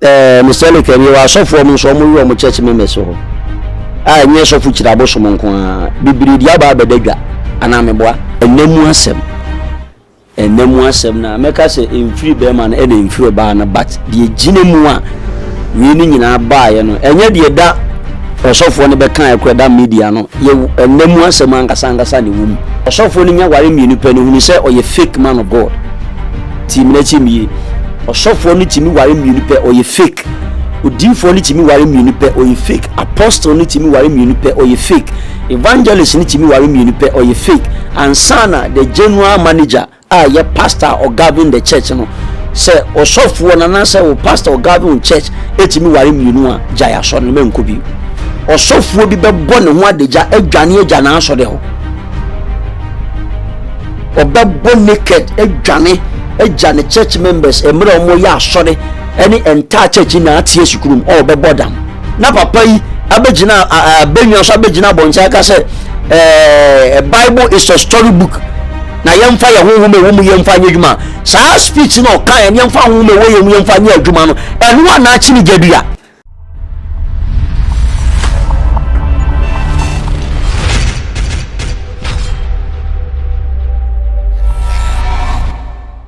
Eh, Mister Elliker, yɛwɔ asɔfoɔ ɔmo nso ɔmo werɛ ɔmo church members hɔ. A ɛnyɛ sɔfo kyiri abosom nko ara, bebree di aba abɛda dwa. Anaa meboa? Ɛna mu asɛm. Ɛna mu asɛm na mɛka sɛ ɛmfiri bɛɛma no ɛna ɛmfiri ɔbaa no but deɛ ɛgyina mu a wei no nyinaa baeɛ no ɛnyɛ deɛ da ɔsɔfoɔ no bɛkaeɛ kora da media no yɛ ɛna mu asɛm ankasa ankasa na ɛwɔ mu. Ɔsɔfoɔ no nya ware mmienu pɛ no hunu sɛ ɔyɛ fake man of God. Tie me na tie me yie. Ɔsɔfoɔ no tumi ware mmienu pɛ, ɔyɛ fake. Odiifoɔ no tumi ware mmienu pɛ, ɔyɛ fake. Apostle no tumi ware mmienu pɛ, ɔyɛ fake. Evangelist no tumi ware mmienu pɛ, ɔyɛ fake. Ansana the general manager a yɛ pastor a ɔgovern the church no, sɛ ɔsɔfoɔ no anaasɛ wo pastor ɔgovern church etumi ware mmienu a, gyae asɔre no mɛnkɔ bi. Ɔsɔfoɔ bi bɛbɔ ne ho adagya adwane agya n'asɔre hɔ. Ɔbɛbɔ naked adwane agya ne church members mmerɛ wɔn yɛ asɔre ɛne entire church na ate asukuru mu ɔbɛbɔ dam na papa yi abɛgyina abɛnwa so abɛgyina abɔnten aka sɛ ɛɛ eh, bible is a story book na yɛmfa yɛn honhom ɛwɔ mu yɛmfa nyɛ adwuma saa speech na ɔka yɛn yɛmfa honhom ɛwɔ yɛn mu yɛmfa nyɛ adwuma no ɛno a n'akyi ne gyadua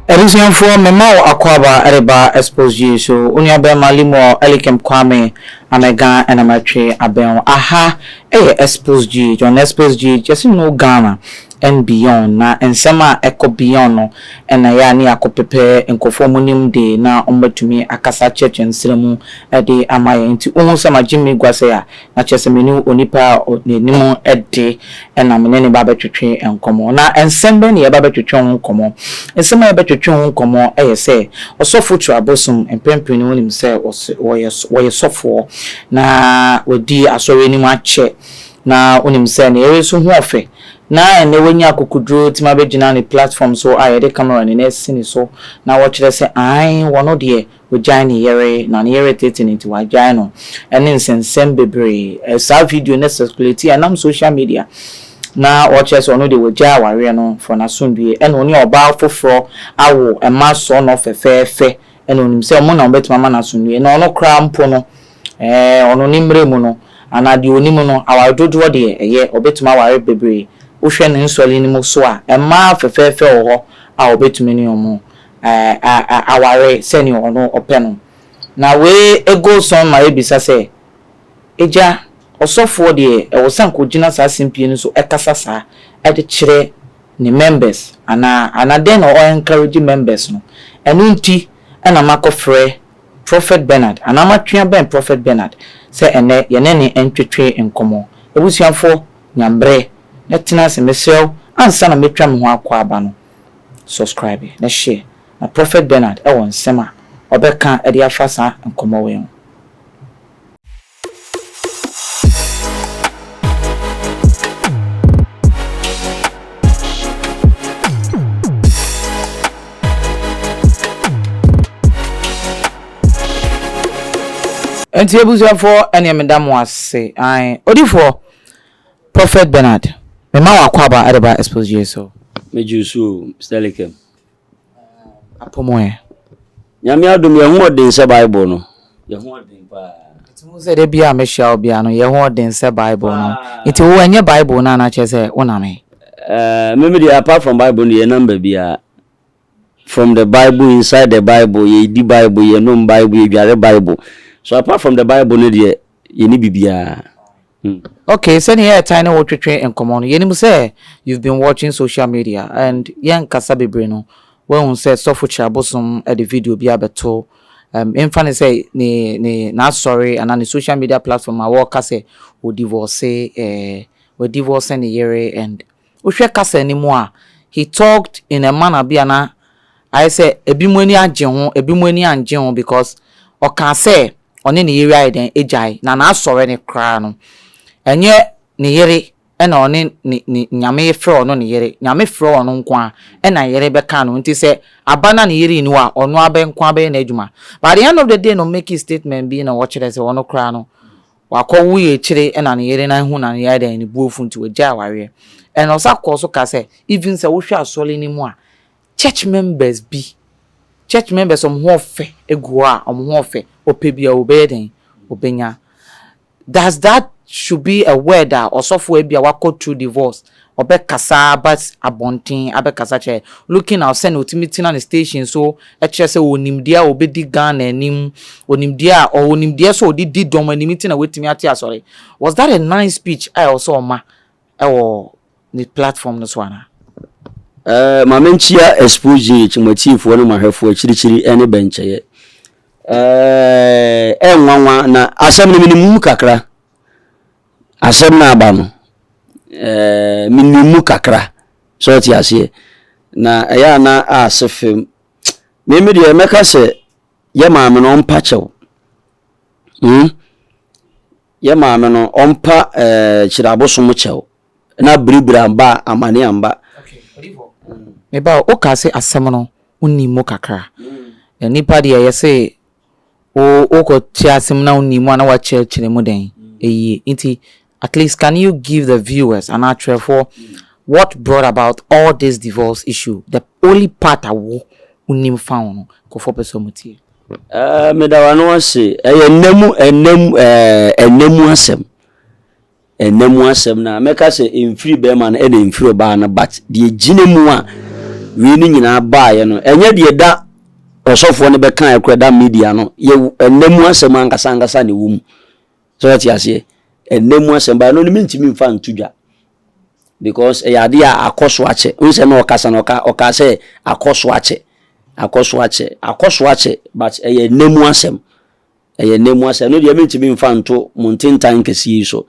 Abusuafoɔ mema wo akwaaba reba Expose G so, wo nua bɛɛma Limuel Elikem Kwame Amega na matwe abɛn wo. Aha yɛ Expose G, join Expose G just know Ghana. and beyond na nsɛm a ɛkɔ beyond no na ɛyɛ a ne yɛakɔ pɛpɛ nkurɔfoɔ a wɔnim de na wɔatumi akasa akyerɛ kyerɛ nsra mu de ama yɛn nti wo hu sɛ magye me gua sɛi a na kyerɛ sɛ me ne onipa a n'anim de na me ne no ba bɛtwetwe nkɔmmɔ na nsɛm bɛn na yɛba bɛtwetwe ho nkɔmmɔ nsɛm a yɛbɛtwetwe ho nkɔmmɔ yɛ sɛ ɔsɔfo tu abosom mprenpren no wonim sɛ ɔyɛ ɔyɛ sɔfoɔ na wadi asɔre anim akyɛ na wonim sɛ ne yere nso ho ɔfɛ Na ɛnnɛ wanya akokoduru atumi abɛgyina ne platform so a yɛde camera no na asi ne so na wɔkyerɛ sɛ aane wɔno deɛ wagyae ne yere na ne yere tete no nti wagyae no ɛne nsɛnsɛm bebree. Saa video no circulate ɛnam social media na ɔkyerɛ sɛ ɔno deɛ wagyae awareɛ no for n'asomdwie ɛna ɔne ɔbaa foforɔ awo mma soronɔ fɛfɛɛfɛ ɛna ɔnim sɛ wɔn na wɔbɛtumi ama no asomdwie na ɔno koraa mpo no Ɛɛ, ɔno ne mmerɛ mu no, anaa deɛ ɔnim no, aware dodoɔ deɛ, ɛyɛ, ɔbɛtumi aware bebree. Wohwɛ ne nsɔre no mu nso a, mmaa fɛfɛɛfɛ wɔ hɔ a ɔbɛtumi ne wɔn aware sɛdeɛ ɔno ɔpɛ no. Na wei goes on ma yɛbisa sɛ, Agya, ɔsɔfoɔ deɛ, ɛwɔ sɛ anka ɔgyina saa simpie no so kasa saa, de kyerɛ ne members anaa? Anaa dɛn na ɔ encourage members no? Ɛno nti na makɔfrɛ Prophet Bernard anaa matwea bɛn Prophet Bernard sɛ ɛnnɛ yɛne no ntwetwe nkɔmmɔ. Abusuafoɔ, nya mmerɛ na tena ase. Mesrɛ wo, ansa na mɛtwa me ho akɔ aba no, subscribe na share. Na Prophet Bernard wɔ nsɛm a ɔbɛka de afa saa nkɔmmɔ wei ho. nti abusuafoɔ ɛneɛ meda mo ase ae odifoɔ prophet bernard mema wakɔ aba ɛde ba expose yesu megye so sterlikem apɔ mu ɛ. Nyame adom yɛ ho ɔden sɛ bible no yɛ ho ɔden paa. Nti wohu sɛ da biaa me hyia wo biaa no yɛ ho ɔden sɛ bible no nti wo ɛnyɛ bible no a na kyerɛ sɛ wo nam he. Ɛɛɛ me me deɛ apart from bible no yɛ nam babiaa from the bible inside the bible yɛ di bible yɛ nom bible yɛ dware bible so apart from the bible no deɛ Yɛnni biribiara. Hmm. Okay, sɛnea yɛtan ne wo twetwe nkɔmmɔ no, yɛnim sɛ you've been watching social media and yɛnkasa bebree no, woahu sɛ Sɔfo Kyirabosom de video bi abɛto, um, mfa ne sɛ ne, ne, n'asɔre anaa ne social media platform a wɔreka sɛ ɔdivorce, eh, wɔadivorce ne yere and Wohwɛ kasa no mu a, he talked in a manner bi a na ayɛ sɛ ebinom ani agye ho, ebinom ani annye ho because ɔkaa sɛ ɔne ne yere ayɛ dɛn agyae, na n'asɔre no koraa no, ɛnyɛ ne yere na ɔne ne, ne, Nyame frɛ ɔno ne yere. Nyame frɛ ɔno nko ara, ɛna ne yere bɛka no ho. Nti sɛ aba na ne yere nni hɔ a, ɔno ara bɛ, nko ara bɛyɛ n'adwuma. But at the end of the day no, ɔmake statement bi na ɔkyerɛ sɛ ɔno koraa no, Ɔakɔ woe ekyir na ne yer no annhu no ano yɛ dɛn, no bo efuw ntsi ogyaa awareɛ. Ɛna ɔsan kɔɔ so kaa sɛ, even sɛ wohwɛ asɔr no mu a, church members bi, church members wɔn ho ɔfɛ egu hɔ a, wɔn ho ɔfɛ, ɔpɛ biara ɔbɛyɛ dɛn, ɔbɛnya. Does that should be a word a ɔsɔfo a ebia wakɔ through divorce ɔbɛkasa aba abɔnten abɛkasa akyerɛ, looking out sɛnea ɔtumi tena ne station so kyerɛ sɛ ɔwɔ nimdeɛ a ɔbɛdi Ghana anim, ɔwɔ nimdeɛ a ɔwɔ nimdeɛ sɛ ɔde di dɔm anim nti na watumi ate asɔre. Was that a nice speech a ɛwɔ sɛ ɔma wɔ ne platform no so anaa? Eh, ma menkyia Exposed GH, mo atiefoɔ ne mo ahwɛfoɔ akyirikyiri ne bɛnkyɛeɛ. Eh, ɛnwanwa na asɛm no menim mu kakra, asɛm no aba no, ɛɛ menim mu kakra sɛ ɔte aseɛ na ɛyɛ a na ase fam meme deɛ mɛka sɛ yɛ maame no ɔmpa kyɛw hmm? yɛ maame no ɔmpa ɛɛ kyerɛ abosom kyɛw na biribiri amba amane amba meba woka se asɛm no wonim mu kakra hmm. na nipa deɛ yɛse wo kɔ te ase mu na wo nim a na wa kyerɛ kyerɛ mu dɛn ɛyie nti at least can you give the viewers anaa atwerɛfoɔ what brought about all this divorce issue the only part a wo wo nim fa ho no nkɔfoɔ pɛ sɛ ɔmo tie. Ɛɛ meda wano ase ɛyɛ nna mu ɛnna mu ɛɛ ɛnna mu asɛm. Nna mu asɛm no a, mɛka sɛ ɛmfiri barima no ɛna ɛmfiri ɔbaa no but deɛ ɛgyina mu a wei no nyinaa baeɛ no ɛnyɛ deɛ da ɔsɔfoɔ no bɛkaeɛ koraa da media no yɛ nna mu asɛm ankasa ankasa na ɛwɔ mu sɛ wate aseɛ ɛnna mu asɛm ba ɛno no mentumi mfa nto dwa because ɛyɛ adeɛ a akɔ so akyɛ wohu sɛ na ɔkasa no ɔka ɔka sɛ akɔ so akyɛ akɔ so akyɛ akɔ so akyɛ but ɛyɛ nna mu asɛm Ɛyɛ nna mu asɛm. Ɛno deɛ mentumi mfa nto mo ntentan kɛseɛ yi so.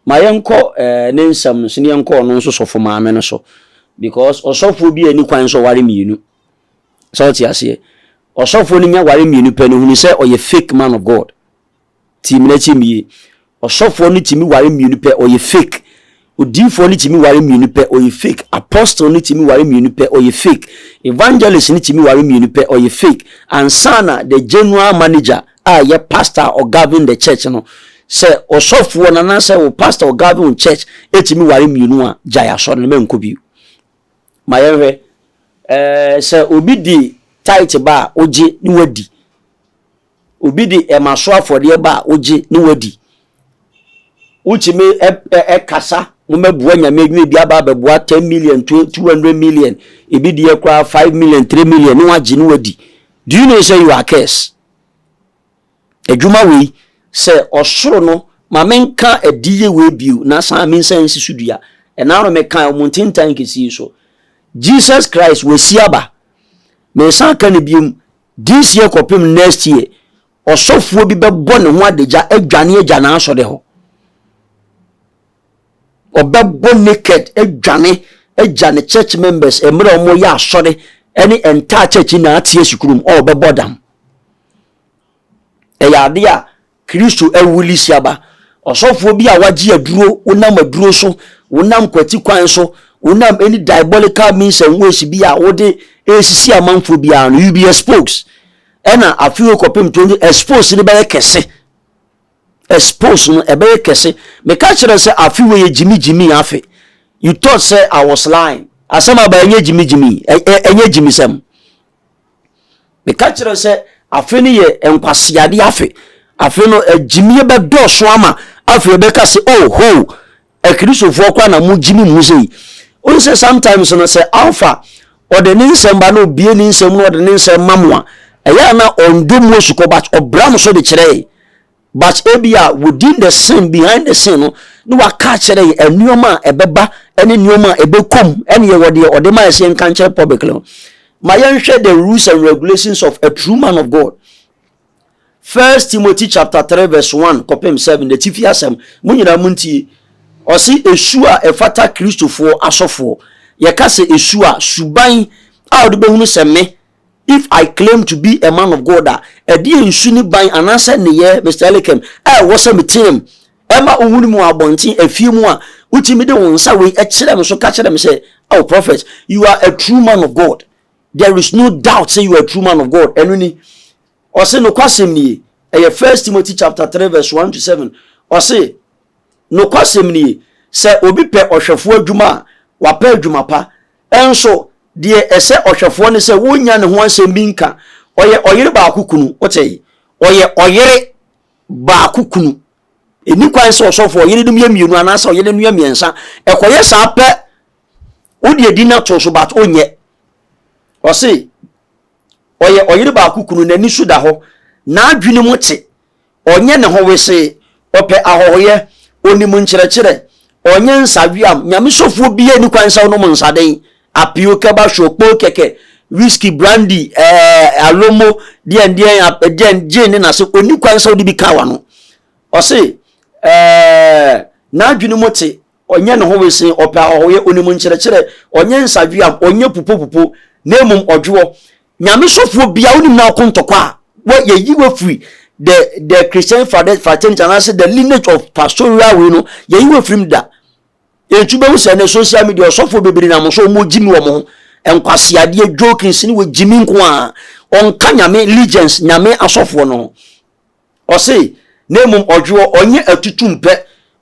Ma yɛnkɔ eh, ne nsɛm no so na yɛnkɔ ɔno nso sɔfo maame no so. Because ɔsɔfoɔ bi a ɛni kwan sɛ ɔware mmienu. Sɛ wote aseɛ. Ɔsɔfoɔ no nya ware mmienu pɛ no, hunu sɛ ɔyɛ fake man of God. Tie me na tie me yie. Ɔsɔfoɔ no tumi ware mmienu pɛ, ɔyɛ fake. Odiyifoɔ no tumi ware mmienu pɛ, ɔyɛ fake. Apostle no tumi ware mmienu pɛ, ɔyɛ fake. Evangelist no tumi ware mmienu pɛ, ɔyɛ fake. Ansa na the general manager a ɛyɛ pastor a ɔgovern the church no, sɛ ɔsɔfoɔ no anaasɛ wo pastor a ɔgovern wo church tumi ware mmienu a, gyae asɔre no, mɛnkɔ bio. Ma yɛnhwɛ. Ɛɛ, sɛ obi de tithe ba a, wogye na wadi. Obi de ɛma so afɔdeɛ ba a, wogye na woadi. Wotumi kasa, mommɛboa Nyame adwuma, ebi aba abɛboa 10 million, 200 million, ebi deɛ koraa 5 million, 3 million, na wagye na wadi. Do you know sɛ you are curse? Adwuma wei, sɛ ɔsoro no, ma menka adiyie wei bio na san mensan nsi so dua. Ɛna no mekae ɔmo ntentan kɛsie so. Jesus Christ wasi aba. Mesan ka no biom, This year kɔpem next year, ɔsɔfoɔ bi bɛbɔ ne ho adagya adwane agya n'asɔre hɔ. Ɔbɛbɔ naked adwane agya ne church members mmerɛ a wɔyɛ asɔre ɛne entire church nyinaa te asi kurom ɔbɛbɔ dam. Ɛyɛ adeɛ a Kristo awu resi aba. Ɔsɔfoɔ bi a wagye aduro, wonam aduro so, wonam kwati kwan so, wonam any diabolical means and ways bi a wode resisi amanfoɔ biara no, you be exposed. Ɛna afei kɔpem to no expose no bɛyɛ kɛse. Expose no ɛbɛyɛ kɛse. Meka kyerɛ sɛ afe wei yɛ gyimi gyimi afe. You thought sɛ I was lying. Asɛm aba ɛnyɛ gyimi gyimi, ɛnyɛ gyimisɛm. Meka kyerɛ sɛ afe no yɛ nkwaseade afe. Afe no agyimie bɛdɔɔso ama afei ɛbɛka sɛ oh ho akirisofoɔ koraa na mogye me mu sei. Wohu sɛ sometimes no sɛ alpha ɔde ne nsɛm ba na obie ne nsɛm na ɔde ne nsɛm ma mo a ɛyɛ a na ɔndɔ mu osukɔ but ɔbra mo so de kyerɛ yɛn. But ebia within the scene, behind the scene no, na waka akyerɛ yɛn nneɛma a ɛbɛba ne nneɛma a ɛbɛkɔ mu, ɛne yɛwɔ deɛ ɔde ma yɛ sɛ yɛnka nkyerɛ public no. Ma yɛnhwɛ the rules and regulations of a true man of God. First Timothy chapter 3 verse 1 kɔpem 7 na tifi asɛm mo nyinaa mo ntie ɔse esu a ɛfata kristofoɔ asɔfoɔ yɛka sɛ esu a suban a wɔde bɛhunu sɛ me If I claim to be a man of God a, ɛdeɛn nsu ne ban anaasɛ nneyɛɛ, Mister Elikem, a ɛwɔ sɛ meteam ɛma wohunu me wɔ abɔnten, afie mu a, wotumi de wo nsa wei kyerɛ me so ka kyerɛ me sɛ, Oh Prophet, you are a true man of God. There is no doubt sɛ you are a true man of God. Ɛno ni. Ɔse nokwasɛm nie. Ɛyɛ First Timothy chapter 3 verse 1 to 7. Ɔse nokwasɛm nie, sɛ obi pɛ ɔhwɛfoɔ adwuma a, wapɛ adwuma pa. Nso, deɛ ɛsɛ ɔhwɛfoɔ ne sɛ wonnya ne ho asɛm bi nka. Ɔyɛ ɔyere baako kunu. Wotee? Ɔyɛ ɔyere baako kunu. Ɛnni kwan sɛ ɔsɔfoɔ yerenom yɛ mmienu anaasɛ ɔyerenom yɛ mmiɛnsa. Ɛkɔyɛ saa pɛ, wode adi no ato so, but ɔnyɛ. Ɔse, ɔyɛ ɔyere baako kunu, n'ani so da hɔ, n'adwene mu te. ɔnyɛ ne ho wesee, ɔpɛ ahɔhoyɛ, onim nkyerɛkyerɛ, ɔnyɛ nsaweam, nyamesɔfoɔ biaa ni kwan sɛ ɔnom nsaden, apio, kɛbahwɔ, kpoo kɛkɛ, whisky, brandy, ɛɛ, alomo, deɛn deɛn, ap, deɛn, gin ne nase, ɔni kwan sɛ ɔde bi ka wano. Ɔse, ɛɛ, n'adwene mu te, ɔnyɛ ne ho wesee, ɔpɛ ahɔhoyɛ, onim nkyerɛkyerɛ, ɔnyɛ nsaweam, ɔnyɛ pupopupo, na mmom ɔdwoɔ, Nyame sɔfoɔ bia wonim na ɔko ntɔkwa a wɔ yɛyi wafiri the the Christian fraternity anaasɛ the lineage of pastoral wei no yɛyi wafiri mu da nti wobɛhu sɛ ne social media ɔsɔfoɔ bebree nam so wɔn gyimi wɔn ho nkwaseadeɛ jokes ne wɔ gyimi nko a ɔnka nyame legends nyame asɔfoɔ no ho Ɔse na mmom ɔdwe hɔ, ɔnyɛ atutum pɛ,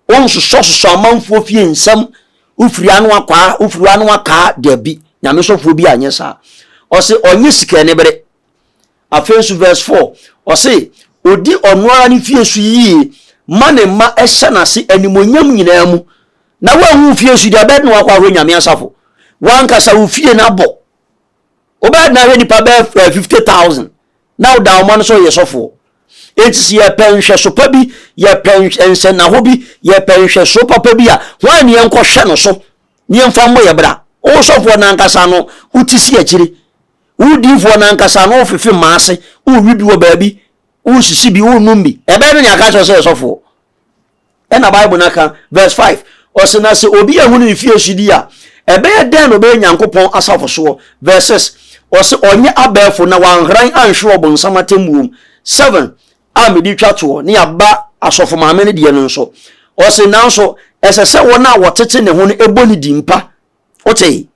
onsosɔsosɔ amanfoɔ fie nsɛm, wofiri ano akwaa, wofiri ano akaa, dabi, Nyame sɔfoɔ bi anyɛ saa. Ɔse ɔnyɛ sika anibere. Afei nso verse 4, ɔse odi ɔno ara ne fie so yie ma ne mma hyɛ n'ase animuonyam nyinaa mu, na woanhu wo fie so deɛ ɛbɛyɛ na wakɔ ahwɛ Nyame asafo, wankasa wo fie no abɔ, wobɛyɛ na ahwɛ nipa bɛyɛ 50,000 na woda wɔn ano sɛ ɔyɛ sɔfoɔ enti sɛ yɛpɛ nhwɛso pa bi yɛpɛ nsɛnnaho bi yɛpɛ nhwɛso papa bi a hwan ne yɛnkɔhwɛ no so ne yɛmfa mmɔ yɛ bra wo sɔfoɔ no ankasa no wote si akyire wodiifoɔ no ankasa no wofefe mmaa ase wowi bi wɔ baabi wosisi bi wonom bi ɛbɛyɛ no ne aka kyerɛ sɛ yɛ sɔfoɔ ɛna bible no aka verse 5 ɔsɛ na sɛ obi ahu no mfie so di a ɛbɛyɛ dɛn na ɔbɛyɛ nyankopɔn asafo soɔ verse 6 ɔsɛ ɔnyɛ abɛɛfo na wanhran anhwere ɔbonsam atemmuom 7 a mede twa toɔ ne aba asɔfo maame no deɛ no nso ɔsɛ nanso ɛsɛ sɛ wɔn a wɔtete ne ho no ɛbɔ ne din pa wotee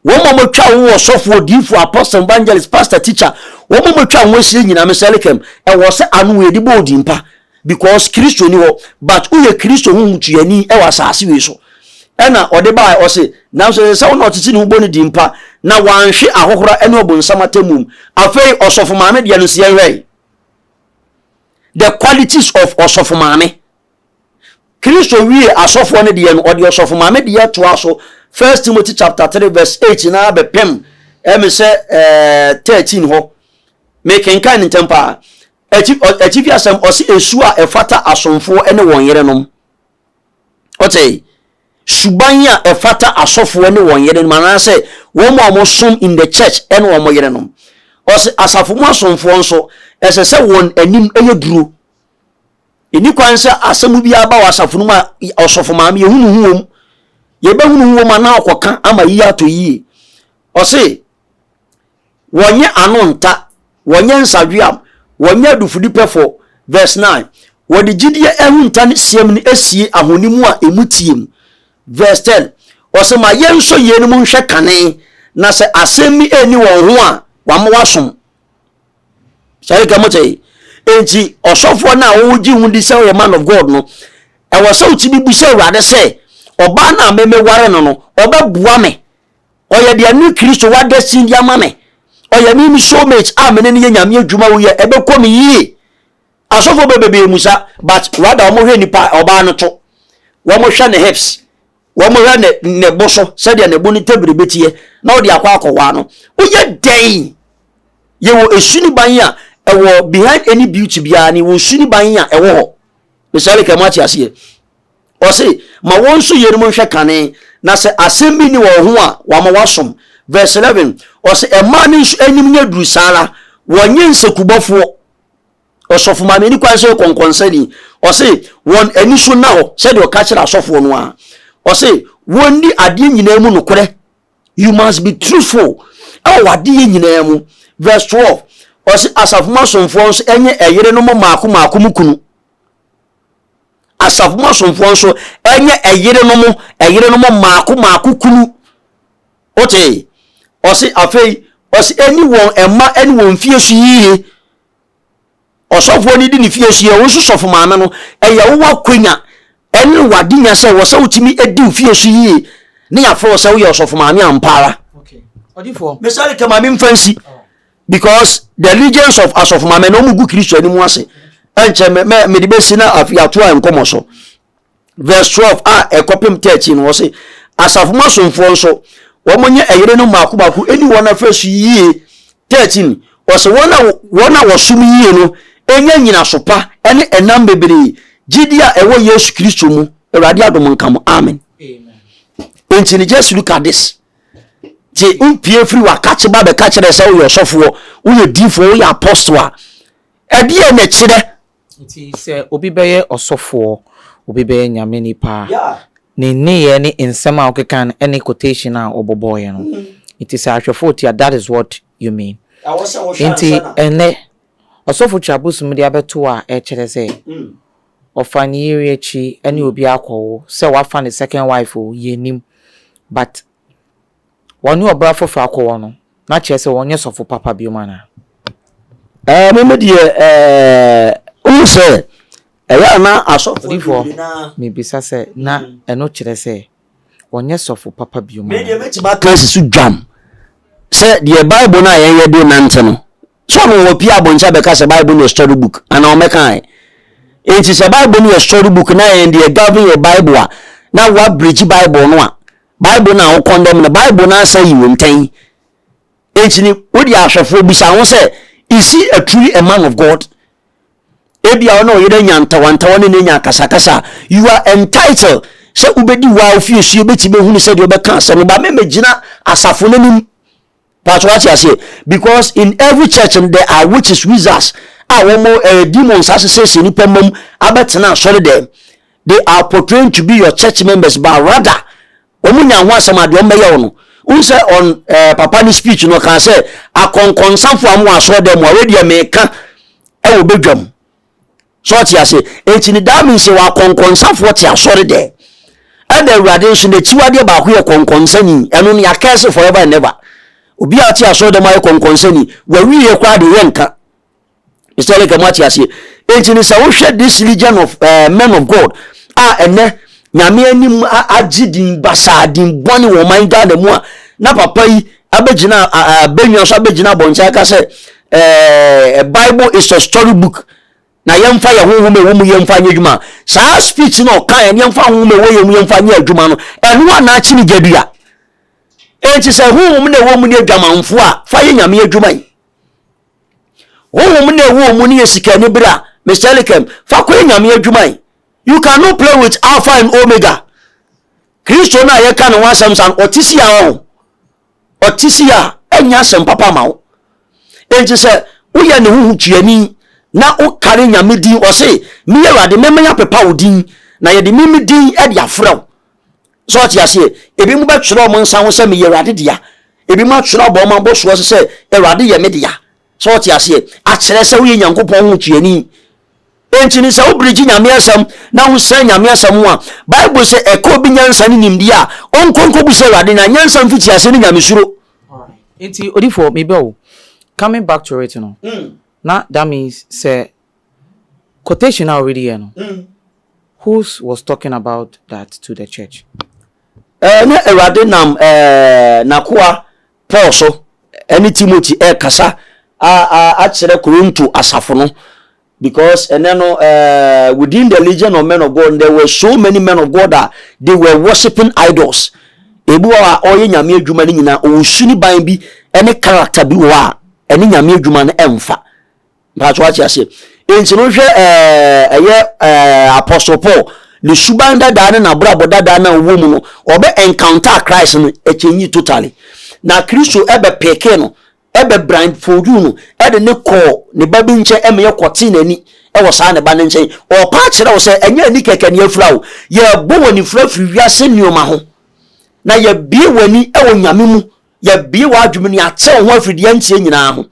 Wɔn a wɔatwa ho ɔsɔfo, odiyifo, apostle, evangelist, pastor, teacher, wɔn a wɔatwa ho ahyia nyinaa mesɛ lekem, ɛwɔ sɛ ano yɛde bɔ odin pa because Kristo ni hɔ but woyɛ Kristo ho mutuyɛni ɛwɔ asase wei so. Ɛna ɔde baa ɔse nanso ɛsɛ sɛ wo na ɔtete ne ho bɔ ne din pa na wanhwe ahohora ɛne ɔbonsam atemmuom. Afei ɔsɔfo maame deɛ no nso yɛnhwɛe. The qualities of ɔsɔfo maame. Kristo wiee asɔfoɔ no deɛ no, ɔde ɔsɔfo maame deɛ toaa so, First Timothy chapter 3 verse 8 na abɛpem ɛme sɛ eh, 13 hɔ. Mekenkan no ntɛm paa. Akyi, ɔ- akyifi asɛm, ɔse esu a ɛfata asomfoɔ ne wɔn yerenom. Ɔte, suban a ɛfata asɔfoɔ ne wɔn yerenom, anaasɛ wɔn a wɔsom in the church ne wɔn yerenom. Ɔse asafo mu asomfoɔ nso, ɛsɛ sɛ wɔn anim yɛ duro. Ɛni kwan sɛ asɛm biara ba wɔ asafo no mu a ɔsɔfo maame yɛhunu ho wom. Yɛbɛhunu ho wom a na ɔkɔka ama yie atɔ yie. Ɔse, wɔnyɛ ano nta, wɔnyɛ nsadweam, wɔnyɛ adufudipɛfoɔ. Verse 9. Wɔde gyidie ahunta ne siam no asie ahoni mu a ɛmu teɛ mu. Verse 10. Ɔse, ma yɛnsɔ yeinom nhwɛ kane, na sɛ asɛm bi ɛnni wɔn ho a, wɔama wɔasom. sɛreka mo sɛe enti ɔsɔfoɔ no a wogye ho di sɛ ɔyɛ man of god no ɛwɔ sɛ wotumi bu sɛ awurade sɛ ɔbaa no a memeware no no ɔbɛboa me ɔyɛ deɛ ne kristo wada sin de ama me ɔyɛ me me soulmate a mene no yɛ nyame adwuma woyɛ ɛbɛkɔ me yie asɔfoɔ bɛbɛbɛɛ mu sa but rather wɔhwɛ nipa ɔbaa no to wɔhwɛ ne hips Wɔhwɛ ne ne bo so sɛdeɛ ne bo ne tebiri bɛteɛ na wɔde akɔ akɔwaa no. Woyɛ dɛn? Yɛwɔ esuniban a ɛwɔ behind any beauty biara ne wɔ suniban a ɛwɔ hɔ. Mesɛle kɛ mo ate aseɛ. Ɔse ma wɔn nso yeinom nhwɛ kane na sɛ asɛm bi ne wɔn ho a wama wasom. Verse 11 ɔse ɛmaa no nso anim nyɛ duru saa ara wɔnyɛ nsekubɔfoɔ. Ɔsɔfo maa me ani kwan sɛ ɔkɔ nkɔnsani. Ɔse wɔn ani so nna hɔ sɛdeɛ ɔka kyerɛ asɔfoɔ no ara. Ɔse wɔnni adeɛ nyinaa mu nokorɛ. You must be truthful ɛwɔ w'adeyɛ nyinaa mu. Verse 12, ɔse asafo mu asomfoɔ nso ɛnyɛ ɛyerenom mmaako mmaako mu kunu. Asafo mu asomfoɔ nso ɛnyɛ ɛyerenom ɛyerenom mmaako mmaako kunu. Wote? Ɔse afei, ɔse ɛni wɔn mma ɛne wɔn fie so yie. ɔsɔfoɔ no di ne fie so yɛ wo nso sɔfo maame no ɛyɛ wo wakwanya ɛne wade nya sɛ wɔ sɛ wotumi di wo fie so yie ne yɛafrɛ wo sɛ woyɛ ɔsɔfo maame ampaara ɔdifoɔ mesɔre kama me mfa nsi oh. because the allegiance of asɔfo maame na ɔmu gu kristo anim ase ɛnkyɛ mede bɛsi na afei ato a nkɔmmɔ so verse twelve a ɛkɔpem thirteen no wɔsi asafo mu asomfoɔ nso wɔn nyɛ ɛyere no mmaako mmaako ɛni wɔn afɛ so yie thirteen wɔsi wɔn a wɔn a wɔsom yie no ɛnya nyinaso pa ɛne ɛnam bebree gyidi a ɛwɔ yesu kristo mu awurade adom nka mo amen nti ne just look at this ti n pie firi wa kakye ba bɛ kakyerɛ sɛ woyɛ ɔsɔfoɔ woyɛ diifoɔ woyɛ apɔstoa ɛdeɛ na ɛkyerɛ Nti sɛ obi bɛyɛ ɔsɔfoɔ, obi bɛyɛ Nyame nipa a, ne nneyɛɛ ne nsɛm a ɔkeka no ɛne quotation a ɔbɔbɔɔeɛ no. Nti sɛ ahwɛfoɔ tia, that is what you mean. Nti ɛnnɛ, ɔsɔfo twa bosom de abɛto wo a, ɛkyerɛ sɛ ɔfa ne yere akyi ɛne obi akɔwo, sɛ wafa ne second wife o, yɛnnim. But wɔne ɔbra foforɔ akɔwɔ no, na kyerɛ sɛ wɔnyɛ sɔfo papa biom anaa? Ɛɛ, me me deɛ ɛɛ, wohu sɛ ɛyɛ a na asɔfoɔ no Odiyifoɔ, bebree no ara. mebisa sɛ na ɛno kyerɛ sɛ wɔnyɛ sɔfo papa biom Me deɛ anaa? mɛtumi aka asi so dwam sɛ deɛ Bible no a yɛn yɛde renante no, sɛ ɔno wɔ pie abɔnten abɛka sɛ Bible no yɛ story book anaa ɔmmɛka ɛ. Enti sɛ Bible no yɛ story book na ɛnde ɛgovern yɛ Bible a, na wɔabirigye Bible no a, Bible no a wo kɔndɛm no, Bible no asan yi wo ntɛn. Enti ni, wo di ahwɛfoɔ bisa ho sɛ, Is he a truly a man of God? Ebi a ɔne ɔyere anya ntawantawa ne n'anya akasakasa. You are entitled sɛ wobɛdi hɔ a wofie sue bɛti bɛhunu sɛdeɛ ɔbɛka asɛm no ba mɛmɛgyina asafo no anim. Paatwa wate aseɛ because in every church no there are witches wizards a wɔn ɛɛ eh, demons asesɛsɛ nipa mmam abɛtena asɔre dɛm they are portraying to be your church members but rather wɔn nya ho asɛm adeɛ wɔn bɛyɛ wɔn n sɛ ɔn ɛɛ eh, papa ne speech no kan sɛ akɔnkɔnsafo a wɔn wɔ asɔre dɛm a wɔyɛ deɛ mɛka ɛwɔ badwam So ɔte ase? Enti ne that means sɛ wakɔnkɔnsafoɔ te asɔre dɛ ɛna awurade nso n'akyiwadeɛ baako yɛ kɔnkɔnsani ɛno ne akɛse forever and ever obi a ɔte asɔre dɛm ayɛ kɔnkɔnsani wawieɛ koraa de yɛ nka mr leka mu ate aseɛ enti ne sɛ wohwɛ this legion of uh, men of god a ɛnɛ nyame anim agye din basaa din bɔne wɔ ɔman ghana mu a na papa yi abɛgyina abɛnwa so abɛgyina abɔnten aka sɛ eh, bible is a story book na yɛmfa yɛn honhom a ɛwɔ mu yɛmfa nyɛ adwuma. Saa speech no ɔkaeɛ no yɛmfa honhom a ɛwɔ yɛn mu yɛmfa nyɛ adwuma no, ɛno a na akyene gya bi a. Enti sɛ honhom na ɛwɔ mu ne adwamanfoɔ a, fa yɛ nyame adwuma yi. Honhom na ɛwɔ mu ne yɛ sikani berɛ a, Mr. Elikem, fa kɔyɛ nyame adwuma yi. You cannot play with Alpha and Omega. Kristo no a yɛka ne ho asɛm sa no, ɔte si a ɔho. ɔte si a, ɛnyɛ asɛm papa ama wo. Enti sɛ woyɛ ne ho hotuani na wokari Nyame din, ɔse, Me Awurade, memɛn apepa wo din, na yɛde me me din de afrɛ wo. Sɛ ɔte aseɛ? Ebi mo bɛtwerɛ wɔn nsa ho sɛ meyɛ Awurade dea. Ebi mo atwerɛ abɔ wɔn abosoɔ so sɛ Awurade yɛ me dea. So wote aseɛ? Akyerɛ sɛ woyɛ Nyankopɔn ho tuani. Enti no, sɛ wobrigye Nyame Asɛm na wosua Nyame Asɛm ho a, Bible se, Ɛka obi nyansa ne nimdeɛ a, ɔnkɔ nkɔbisa Awurade, na nyansa mfitiaseɛ ne Nyamesuro. Enti odifoɔ, mebɛ wo. Coming back to it no, na that means sɛ quotation a woredi yɛ no, whose was talking about that to the church? Ɛɛ, na Awurade nam ɛɛ N'akoa Paul nso ne Timothy rekasa akyerɛ Korinto asafo no because ɛnɛ no uh, within the legion of men of God there were so many men of God that they were worshiping idols ebi wɔ a ɔyɛ nyame adwuma no nyinaa ɔwɔ su ne ban bi ne character bi wɔ a ɛne nyame adwuma no ɛmfa Mpatsɔ ɔate aseɛ. Enti no hwɛ ɛɛ ɛyɛ ɛɛ Apostle Paul ne suban dadaa ne n'abrabɔ dadaa na ɔwɔ mu no ɔbɛ encounter Christ no ɛkyɛnyi totally. Na Kristo ɛbɛ peke no ɛbɛ brand foju no ɛde ne kɔɔ ne ba bi nkyɛn ɛma yɛ kɔ tee n'ani ɛwɔ saa ne ba ne nkyɛn. Ɔɔpa akyerɛ wo sɛ ɛnyɛ ani kɛkɛ ne afira o. Yɛ bɔ wani fira firi wiase nneɛma ho na yɛ bie wani ɛwɔ Nyame mu. Yɛ bie w'adwemene atew ho afiri deɛ ɛnteɛ nyinaa ho.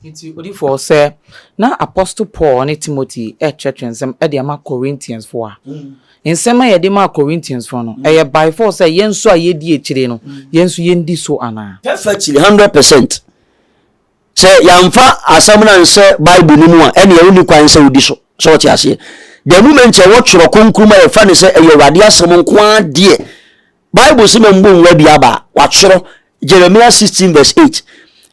Enti, odi fɔ sɛ na apostle Paul ne Timothy rekyerɛkyerɛ nsɛm de ama Corinthiansfo a nsɛm a wɔde maa Corinthiansfo no, ɛyɛ by force sɛ yɛn nso a yedi akyiri no, yɛn nso yendi so anaa? Ɛfa akyiri hundred percent. Sɛ yɛamfa asɛm no anhyɛ Bible no mu a, ɛnneɛ wonni kwan sɛ wodi so. Sɛ wɔte aseɛ? The moment a ɛwɔ Twerɛ Kronkron mu a yɛfa no sɛ ɛyɛ Awurade asɛm nko ara deɛ, Bible se ma mbo nwura bi aba a wɔatwerɛ, Jeremiah 16 vs 8,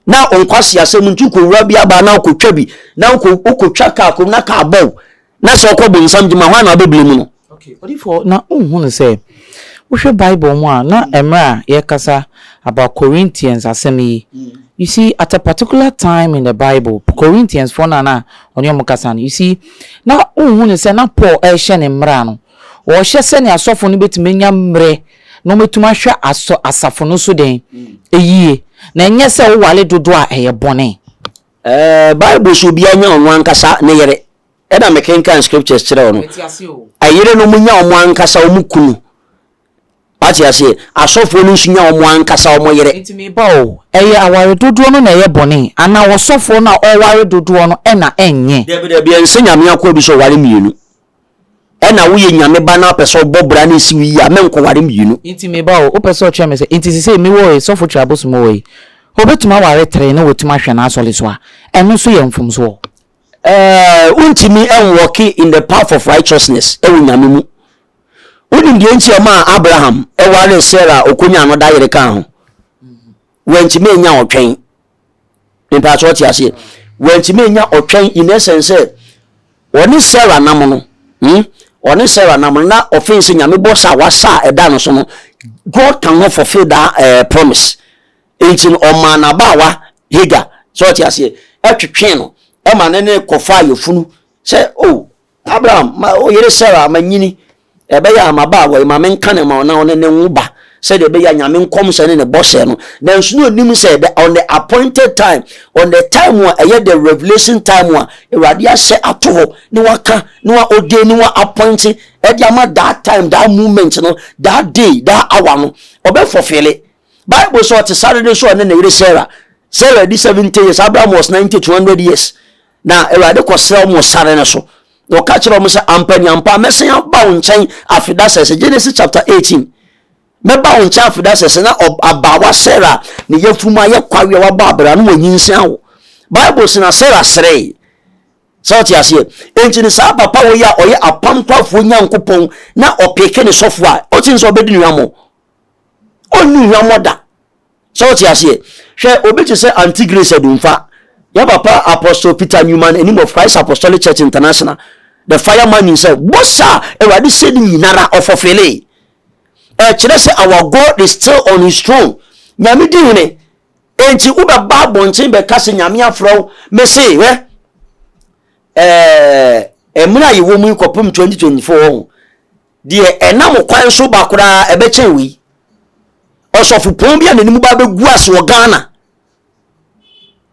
na onkwase asɛm nti wokɔwura bi aba a na wokɔtwa bi, na wokɔtwa kaa kɔm na kaa bɔ wo, na sɛ ɔkɔ bonsam gyema hwan na wobɛbli mu no? Odifoɔ, na wonhunu sɛ, wohwɛ Bible mu a, na mmerɛ a yɛrekasa about Corinthians asɛm yi, you see, at a particular time in the Bible, Corinthiansfoɔ no a na ɔne wɔn rekasa no, you see, na wonhunu sɛ na Paul rehyɛ ne mmara no, Wɔhyɛ sɛnea asɔfo no betumi anya mmere na wɔatumi ahwɛ asɔ asafo no so dɛn? Yiye, na ɛnyɛ sɛ woware dodo a ɛyɛ bɔne. Ɛɛ, Bible se obiara nya ɔno ankasa ne yere. Ɛna mekenkan scriptures kyerɛɛ wo no. Mete aseɛ o. Ɛyerenom nya wɔn ankasa wɔn kunu. Wate aseɛ? Asɔfoɔ no nso nya wɔn ankasa wɔn yere. Nti meba o, ɛyɛ aware dodoɔ no na ɛyɛ bɔne? Anaa ɔsɔfoɔ no a ɔware dodoɔ no na ɛnyɛ? Dabi, dabi, ɛnsɛ Nyame akoa bi sɛ ɔware mmienu. Ɛna woyɛ Nyame ba na wopɛ sɛ ɔbɔ bra na ɛsi wo yie a, menkɔware mmienu. Nti me ba o, wopɛ sɛ ɔkyerɛ me sɛ, nti sesei mewɔ e, Sɔfo Twi Abosom o, ei, obetumi aware three na watumi ahwɛ n'asɔre so a, ɛno nso yɛ mfomso o. Ɛɛh, wontumi nwɔke in the path of righteousness wɔ Nyame mu. Wonim deɛ nti ɛma Abraham waree Sarah a ɔkɔnyaa no da yere kaa ho? Wantumi anya ɔtwɛn. Mempaakye ɔte aseɛ. Wantumi anya ɔtwɛn in essence sɛ ɔne Sarah nam no. Hmm? Ɔne Sarah nam no na ɔfee sɛ nyame bɔ sa wasa a ɛda no so no. God can not fulfill that uh, promise. Nti no ɔmaa n'abaawa Hagar sɛ ɔte aseɛ ɛtwetwee no ɛma ne ne kɔfaa yɛfunu sɛ oh Abraham ma wo yere Sara ma nyini, ɛbɛyɛ a m'abaawa yi, ma menka no ma wo na wo ne no nwo ba, sɛdeɛ ɛbɛyɛ a Nyame nkɔmhyɛ ne ne bɔhyɛ no, nanso na ɔnim sɛ the, on the appointed time, on the time a ɛyɛ the revelation time a Awurade ahyɛ ato hɔ, ne waka, ne wa ordain, ne wa appoint, ɛde ama that time, that moment no, that day, that hour no, ɔbɛ fulfille. Bible sɛ ɔte sare no so ɔne ne yere Sara, Sara di 70 years, Abraham was 90 to 100 years, Na Awurade kɔsrɛ wɔn wɔ sare no so, na ɔka kyerɛ wɔn sɛ, Ampa ni ampa, mɛsan aba wo nkyɛn afeda sɛsɛ. Genesis chapter 18. Mɛba wo nkyɛn afeda sɛsɛ na abaawa Sarah ne yafunu mu ayɛ kwawe a wabɔ abira no wɔanyinsan wo. Bible sɛ na Sarah seree. Sɛ ɔte aseɛ. Enti ne saa papa wɔ yi a ɔyɛ apam kwafoɔ nyankopɔn na ɔpeke ne sɔfo a ɔte sɛ ɔbɛdi nnuamɔ. Ɔnni nnuamɔ da. So wote aseɛ? Hwɛ obi te sɛ Antigris Adumfa, yɛn papa Apostle Peter Newman Anim of Christ Apostolic Church International, the fire man himself, bosa a Awurade sɛ no nyinara ɔfɔfilee. Ɛkyerɛ sɛ our God is still on his throne. Nyame di hene. Enti wobɛba abɔnten bɛka sɛ Nyame afrɛ wo, mese hwɛ, ɛɛ, mmerɛ a yɛwɔ mu yi kɔpem 2024 wɔho, Deɛ ɛnam kwan so ba koraa ɛbɛkyɛn wei. Ɔsɔfopɔn bi a n'anim ba bɛgu ase wɔ Ghana.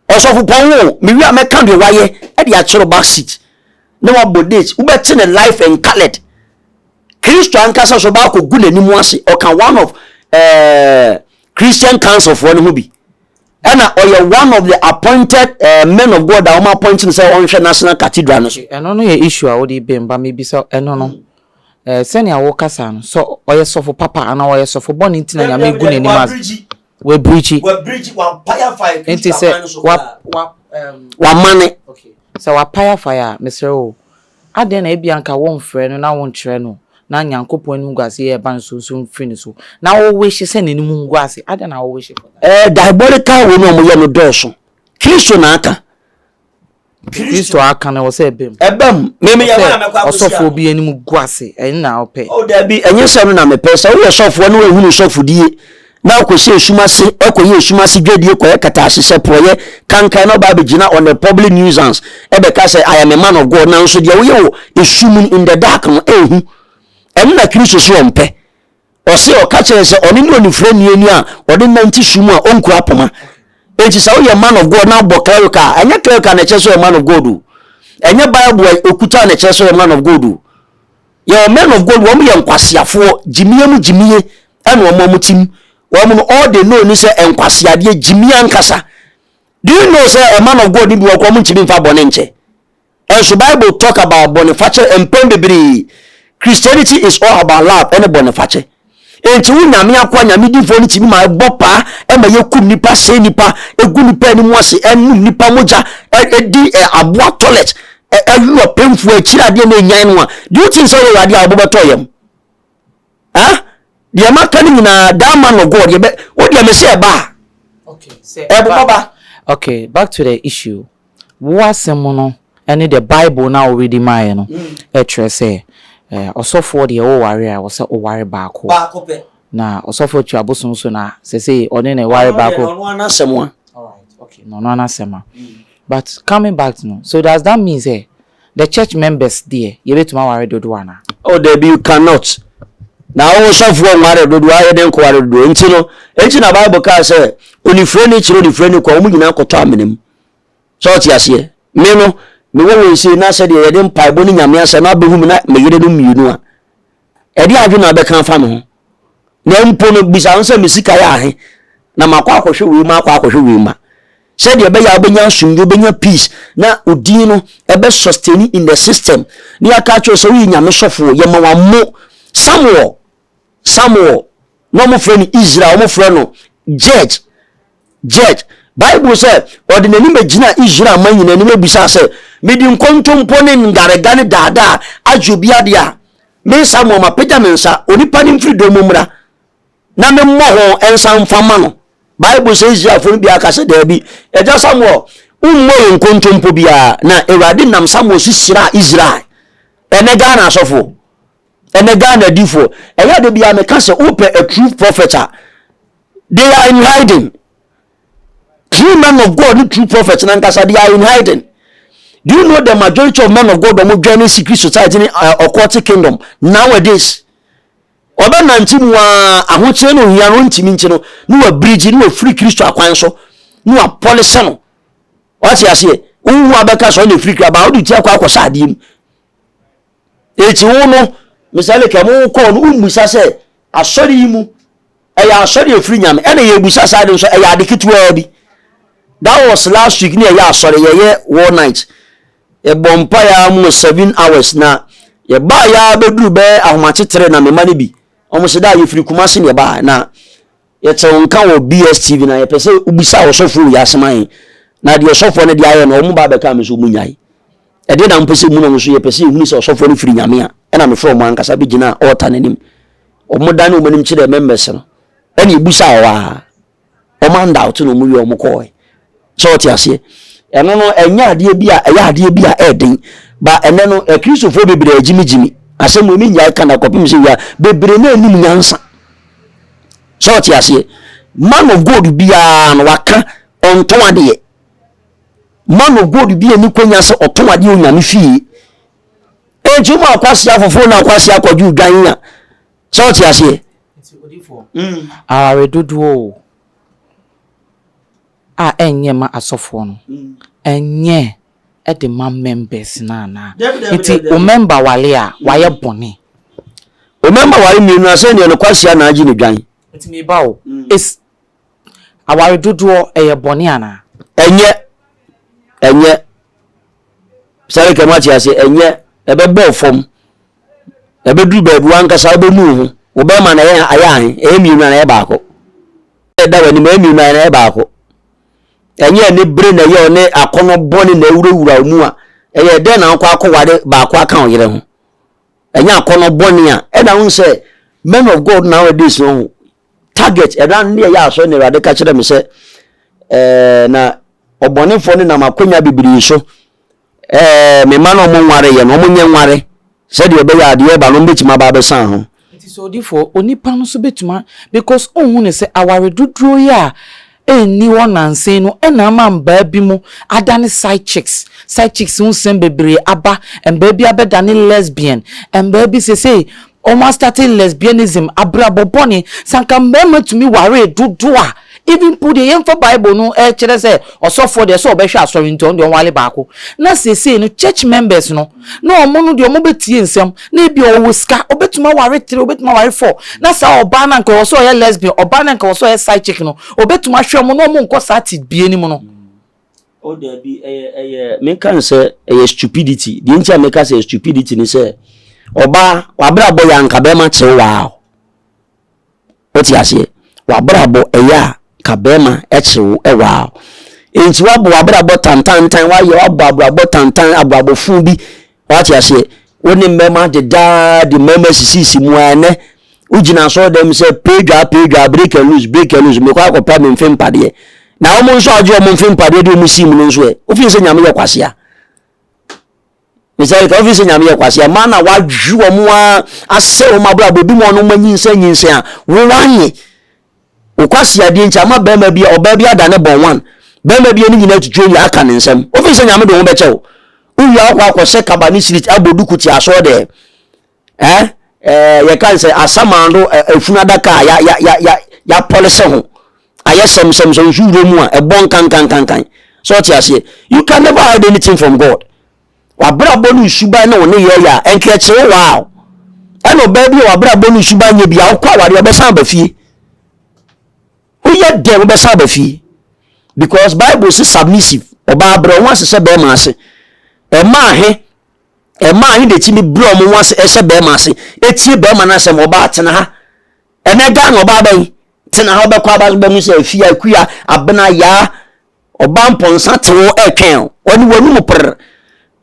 Ɔsɔfopɔn wo mewie a mɛka deɛ wayɛ ɛde akyerɛ back seat na wabɔ date wobɛte ne life and colored. Kristo ankasa so baako gu n'anim ase ɔka one of ɛɛ eh, Christian council foɔ no ho bi. ɛna ɔyɛ one of the appointed uh, men of God a wɔn appoint no sɛ ɔnhwɛ national cathedral no so. ɛno no yɛ issue a wode bɛn ba mebisa ɛno no eh, sɛnea wokasa no sɛ ɔyɛ sɔfo papa anaa ɔyɛ sɔfo bɔne nti na nyame gu n'anim ase wabirigyi nti sɛ wamane sɛ wapae afae a mesrɛ o Adɛn na ebia anka womfrɛ no na wonkyerɛ no na Nyankopɔn anim nguase yɛ ɛba nsonso mfiri ne so, na wo wish sɛ n'anim ngu ase? Adɛn na wo wish for that? Ɛɛ, diabolical wei na wɔyɛ no dɔɔso. Kristo na aka. Kristo aka no, ɛwɔ sɛ ɛba mu. Ɛba mu. Me meyɛ hɔ a mɛkɔ akɔhyia no. Ɔsɛ ɔsɔfoɔ bi anim gu ase, ɛno na wopɛ. Oh, dabi, ɛnyɛ sɛ ɛno na mepɛ. Sɛ woyɛ sɔfoɔ na woahunu sɔfodie. Na ɔkɔhyɛ esum ase, ɔkɔyɛ esum ase dwadie, kɔyɛ katahyehyɛ, porɔeɛ, kankae na ɔba abɛgyina on a public nuisance ɛbɛka sɛ I am a man of God nanso deɛ woyɛ wɔ esum no in the dark no ɛnhu. Ɛno na Kristo se ɔmpɛ. Ɔse ɔka kyerɛ sɛ ɔne ne onifirani ni a ɔde nante sum a ɔnkura poma. Enti sɛ woyɛ man of God na wobɔ clerical a ɛnyɛ clerical na ɛkyerɛ sɛ ɔyɛ man of God o. Ɛnyɛ Bible a okuta na ɛkyerɛ sɛ ɔyɛ man of God o. Yɛwɔ men of God wɔn yɛ nkwaseafoɔ gyimie mu gyimie ɛna wɔn wɔn ti mu wɔn no all they know ni sɛ nkwaseadeɛ gyimie ankasa do you know sɛ a man of God ni bi wɔ kɔ wɔn ntumi nfa bɔne nkyɛ ɛnso bible talk about bɔnefakyɛ mpɛn bebree Christianity is all about love ɛne bɔnefakyɛ Enti wo nyame akoa nyamedifoɔ no tumi ma ɛbɔ paa ɛma yɛkum nnipa, sɛe nnipa, ɛgu nnipa anim ase, ɛnom nnipa mogya, ɛdi aboa toilet, ɛwe ɔpemfoɔ akyiri adeɛ na ɛnyan no a, do you think sɛ woyɛ adeɛ a wɔbɔ bɛtɔ yam? Eh? Deɛ maka no nyinaa, that man of God, yɛbɛ, wo deɛ me sɛ ɛba a, ɛbobɔ ba. Okay, back to the issue. Wo asɛm no ne the bible no a wo readi maeɛ no kyerɛ sɛ ɔsɔfoɔ deɛ wo ware a ɛwɔ sɛ wo ware baako na ɔsɔfoɔ tua bosom nso na sɛ sɛ ɔne na ɛware baako na ɔno anasɛm a na ɔno anasɛm a but coming back to no so does that mean sɛ the church members deɛ yɛbɛtumi aware dodoɔ anaa? Oh dabi you cannot na wo sɔfoɔ nware dodoɔ ayɛ dɛn kɔware dodoɔ nti no nti na bible kaa sɛ onifire ne kyerɛ onifire ne kɔ wɔn nyinaa kɔtɔ amena mu So ɔte aseɛ? Me no, mewɔ wei sei na sɛdeɛ yɛde mpaebɔ ne Nyame asɛm no abɛhu me na me yere no mmienu a, ɛdeɛ adwene na wobɛka afa me ho? Na mpo no, bisa ho sɛ me sika yɛ ahe na makɔ akɔhwɛ wei ma akɔ akɔhwɛ wei ma sɛdeɛ ɛbɛyɛ a wobɛnya asomdwe wobɛnya peace na odin no ɛbɛ sustain in the system ne yɛaka kyerɛ sɛ woyɛ nyame sɔfoɔ yɛma wammo samuel Samuel, na wɔfrɛ no Israel, wɔfrɛ no Judge. Judge. Bible sɛ, ɔde n'anim bɛgyinaa Israel ma nyina anim abisaa sɛ, mede nkontompo ne ngarega ne daadaa agye obi adeɛ a, me Samuel mapagya me nsa, onipa no mfiri dɔm mu mmra, na memmɔ ho nsa mfa ma no. Bible sɛ Israelfoɔ no biara ka sɛ, daabi, agya Samuel, wommɔ yɛ nkontompo biara, na Awurade nam Samuel so hyiraa Israel. Ɛnɛ Ghana asɔfoɔ, ɛnɛ ghana adifoɔ ɛyɛ de bia meka sɛ wopɛ a true prophet a they are in hiding true men of god ne true prophet nankasa they are in hiding do you know the majority of men of god ɔmo dwɛn ne secret society ne uh, occultic kingdom nowadays ɔbɛnante mu a ahokyerɛ no ohia no ntumi nti no ne wabirigye ne wafiri kristo akwan so ne wapɔlesɛ no wate aseɛ wohu abɛka sɛ ɔne firi kra baa wode ti akɔ akɔsɛ adeɛ mu Eti wo no, Mr. Lake, ɛmo wo kɔɔ no, wommisa sɛ asɔre yi mu ɛyɛ asɔre efiri nyame ɛna yɛ busa saa de nso ɛyɛ ade ketewaa bi. That was last week ne ɛyɛ asɔre yɛyɛ war night. Yɛbɔ mpa yɛ amu seven hours na yɛbaa yɛ abɛduru bɛyɛ ahomakyetere na mema no bi. Wɔn sɛ da yɛfiri Kumasi ne yɛbaa na Yɛtse wo nka wɔ BSTV na yɛpɛ sɛ wobisa ɔsɔfoɔ wei asɛm ahe na deɛ ɔsɔfoɔ no de ayɛ no ɔmo ba abɛkaa me sɛ ɔmo nyae ɛdeɛ na mpɛ sɛ ɛmu na ɔmo nso yɛpɛ sɛ yɛhunu sɛ ɔsɔfoɔ no firi Nyame a ɛna mefrɛ ɔmo ankasa bɛgyinaa altar no anim ɔmo dane ɔmo anim kyerɛɛ members no ɛne ɛbusaa ɔwɔ a ɔmo andoubt na ɔmo wie ɔmo kɔɔɛ So wote aseɛ? Ɛno no, ɛnyɛ adeɛ bi a ɛyɛ adeɛ bi a ɛyɛ den. Ba ɛnɛ no, Akristofoɔ bebree agyimigyimi. Asɛm wei mennyae ka na kɔpem sɛ wia bebree na anim nyansa. So wote aseɛ? Man of God biara no waka ɔntɔn adeɛ. Man of God bi ani kwanya sɛ ɔtɔn adeɛ onyame fie. Enti wɔn akwasi afoforɔ na akwasi akɔdwo dwan a. So wote aseɛ? Mm. Awaredodoɔ o. A ɛnyɛ mma asɔfoɔ no. Ɛnyɛ de ma members no anaa? Nti wo member ware a wayɛ bɔne? Wo member ware mmienu a sɛdeɛ no kwasia na agye no dwan. Nti me ba o, is aware dodoɔ ɛyɛ bɔne anaa? Ɛnyɛ, ɛnyɛ. Sarika moate aseɛ, ɛnyɛ. Ɛbɛbɔ wo fam. Ɛbɛduru baabi wo ankasa wobɛnu wo ho. Wo bɛrima na ɛyɛ ayɛ ahe? Ɛyɛ mmienu anaa ɛyɛ baako? Da w'anim ɛyɛ mmienu na ɛyɛ baako. Ɛnyɛ ne bere na ɛyɛ ɔne akɔnɔ bɔne na ɛwurawura mu a ɛyɛ dɛn na wokɔ akɔware baako aka wo yere ho. Ɛnyɛ akɔnɔ bɔne a ɛna wo sɛ men of God nowadays no ho target ɛna ne ɛyɛ asɔre na Awurade ka kyerɛ me sɛ ɛɛ na ɔbɔnefoɔ no nam akwanya bebree so Ɛɛ, me mma no wɔnwareeɛ no, wɔnyɛ nware, sɛdeɛ ɛbɛyɛ a adeɛ reba no wɔbɛtumi aba abɛsa ho. Nti sɛ odifoɔ, onipa no nso bɛtumi a, because wonhu no sɛ aware doduro yi a ɛnni hɔ nansa no na ama mbaa bi mo adane side chicks, side chicks ho nsɛm bebree aba, mbaa bi abɛdane lesbian, mbaa bi sesei, Ɔmo astate lesbianism, abrabɔ bɔne, sɛ anka mmarima tumi waree dodo a, even mpo deɛ yɛmfa bible no ɛkyerɛ sɛ ɔsɔfoɔ deɛ sɛ ɔbɛhwɛ asɔre nti ɔno deɛ ɔnwale baako, na seesei no church members no na ɔmo no deɛ ɔmo bɛtie nsɛm na ebia ɔwɔ sika ɔbɛtumi aware three ɔbɛtumi aware four na saa ɔbaa no anka ɛwɔ sɛ ɔyɛ lesbian ɔbaa no anka ɛwɔ sɛ ɔyɛ side chick no ɔbɛtumi ahwɛ ɔmo na ɔmo nkɔ saa tebea no mu no. Oh dabi ɛyɛ ɛyɛ me nka no sɛ ɛyɛ stupidity deɛ nti a me ka sɛ ɛyɛ stupidity ne sɛ ɔbaa wabrabɔ yɛ anka bɛrima kyerɛ waa o wote aseɛ wabrabɔ ɛyɛ a ka bɛrima ɛkyerɛ wo ɛwaa o nti wabɔ wabrabɔ tantantan wayɛ wabɔ abrabɔ tantan abrabɔ fun bi Wate aseɛ? Wo ne mmɛma deda ara de mmɛma sisisi mu ara ɛnɛ. Wogyina asɔre dɛm sɛ peedwaa peedwaa break and loose break and loose mekɔ akɔpɛ me mfe mpadeɛ. Na wɔn nso a wɔgye wɔn mfe mpadeɛ de wɔn sim no nso ɛ. Wofin sɛ nyame yɛ kwasea. Mr. Erika wofin sɛ nyame yɛ kwasea. Maa na wadwe wɔn a asɛ wɔn abrabɔ ebi mu a wɔn anyinsɛn nyinsɛn a wo wanye. wo kwaseadeɛ nti ama bɛrima bi ɔbaa bi ada ne bɔn one bɛrima bi ani nyina atwitwa owie aka ne nsɛm wofiri sɛ nyame de ho bɛkyɛ wo wowie akɔ akɔhyɛ kaba ne sirit abɔ duku te asɔɔ dɛ eh, eh, yɛka nsɛ asamando afunu adaka a ya, ya, ya, ya, yɛapɔlese ho ayɛ sɛmsɛm sɛ nsu wura mu a ɛbɔ nkankankankan sɛ ɔte aseɛ you can never hide anything from God W'abrabɔ no nsuban ne wo nneyɛɛ yɛ a, ɛnkyerɛkyerɛ wo a ɛna ɔbaa bi a w'abrabɔ no nsuban nyɛ bi a wokɔ awareɛ ɔbɛsan aba fie. Woyɛ dɛn wobɛsan aba fie? Because Bible se submissive ɔbaa brɛ ɔho ase sɛ bɛrima ase. Ɛmaa he ɛmaa he detumi brɛ ɔmo ho ase ɛhyɛ bɛrima ase etie bɛrima no asɛm ɔbaa tena ha. Ɛnɛ Ghana ɔbaa bɛn tena ha ɔbɛkɔ aba bɛhu sɛ afia, akua, abena, yaa Ɔbaa mpɔnsa te wo ɛtwɛn o. Ɔne w'anum per.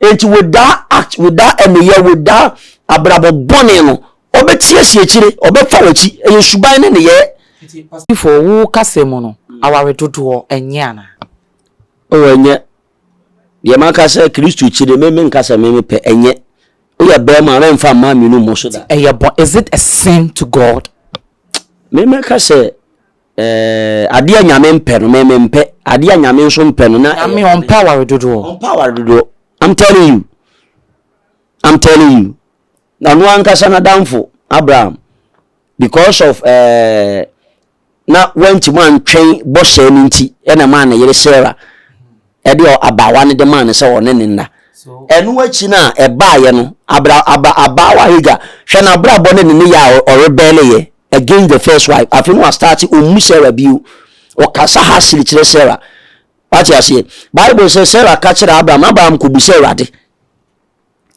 Enti with that act, with that ɛneyɛ, with that abrabɔ bɔne no, ɔbɛtia si akyire, ɔbɛfa w'akyi. Ɛyɛ suban ne nneyɛɛ. Titi Pasifo, wo kasa mu no, aware dodoɔ, ɛnyɛ anaa? Oh, ɛnyɛ. Deɛ maka sɛ Kristo akyi de, me menka sɛ me mepɛ, ɛnyɛ. Woyɛ barima a, rɛmfa mmaa mmienu mmɔ so da. Nti ɛyɛ bɔ, is it a sin to God? Me mɛka sɛ, Eh, adeɛ a Nyame mpɛ no, me mempɛ. Adeɛ a Nyame nso mpɛ no, na. Nyame ɔmpɛ aware dodoɔ. Ɔmpɛ aware dodoɔ. I'm telling you. I'm telling you. Na ɔno ankasa n'adamfo, Abraham, because of eh, na wantumi antwɛn bɔhyɛ no nti, ɛna maa ne yere Sarah. Ɛdeɛ abaawa no de maa no sɛ ɔne no nna. Ɛno akyi no a ɛbaeɛ no, abra, aba, abaawa Hagar, hwɛ n'abrabɔ ne ne ne yɛ a ɔrebɛɛleyɛ against the first wife. Afei no wastarte ɔmmu Sarah bio. Ɔkasa hasili kyerɛ Sarah. Wate aseɛ? Bible sɛ Sarah ka kyerɛ Abraham, Abraham kɔbisa Awurade.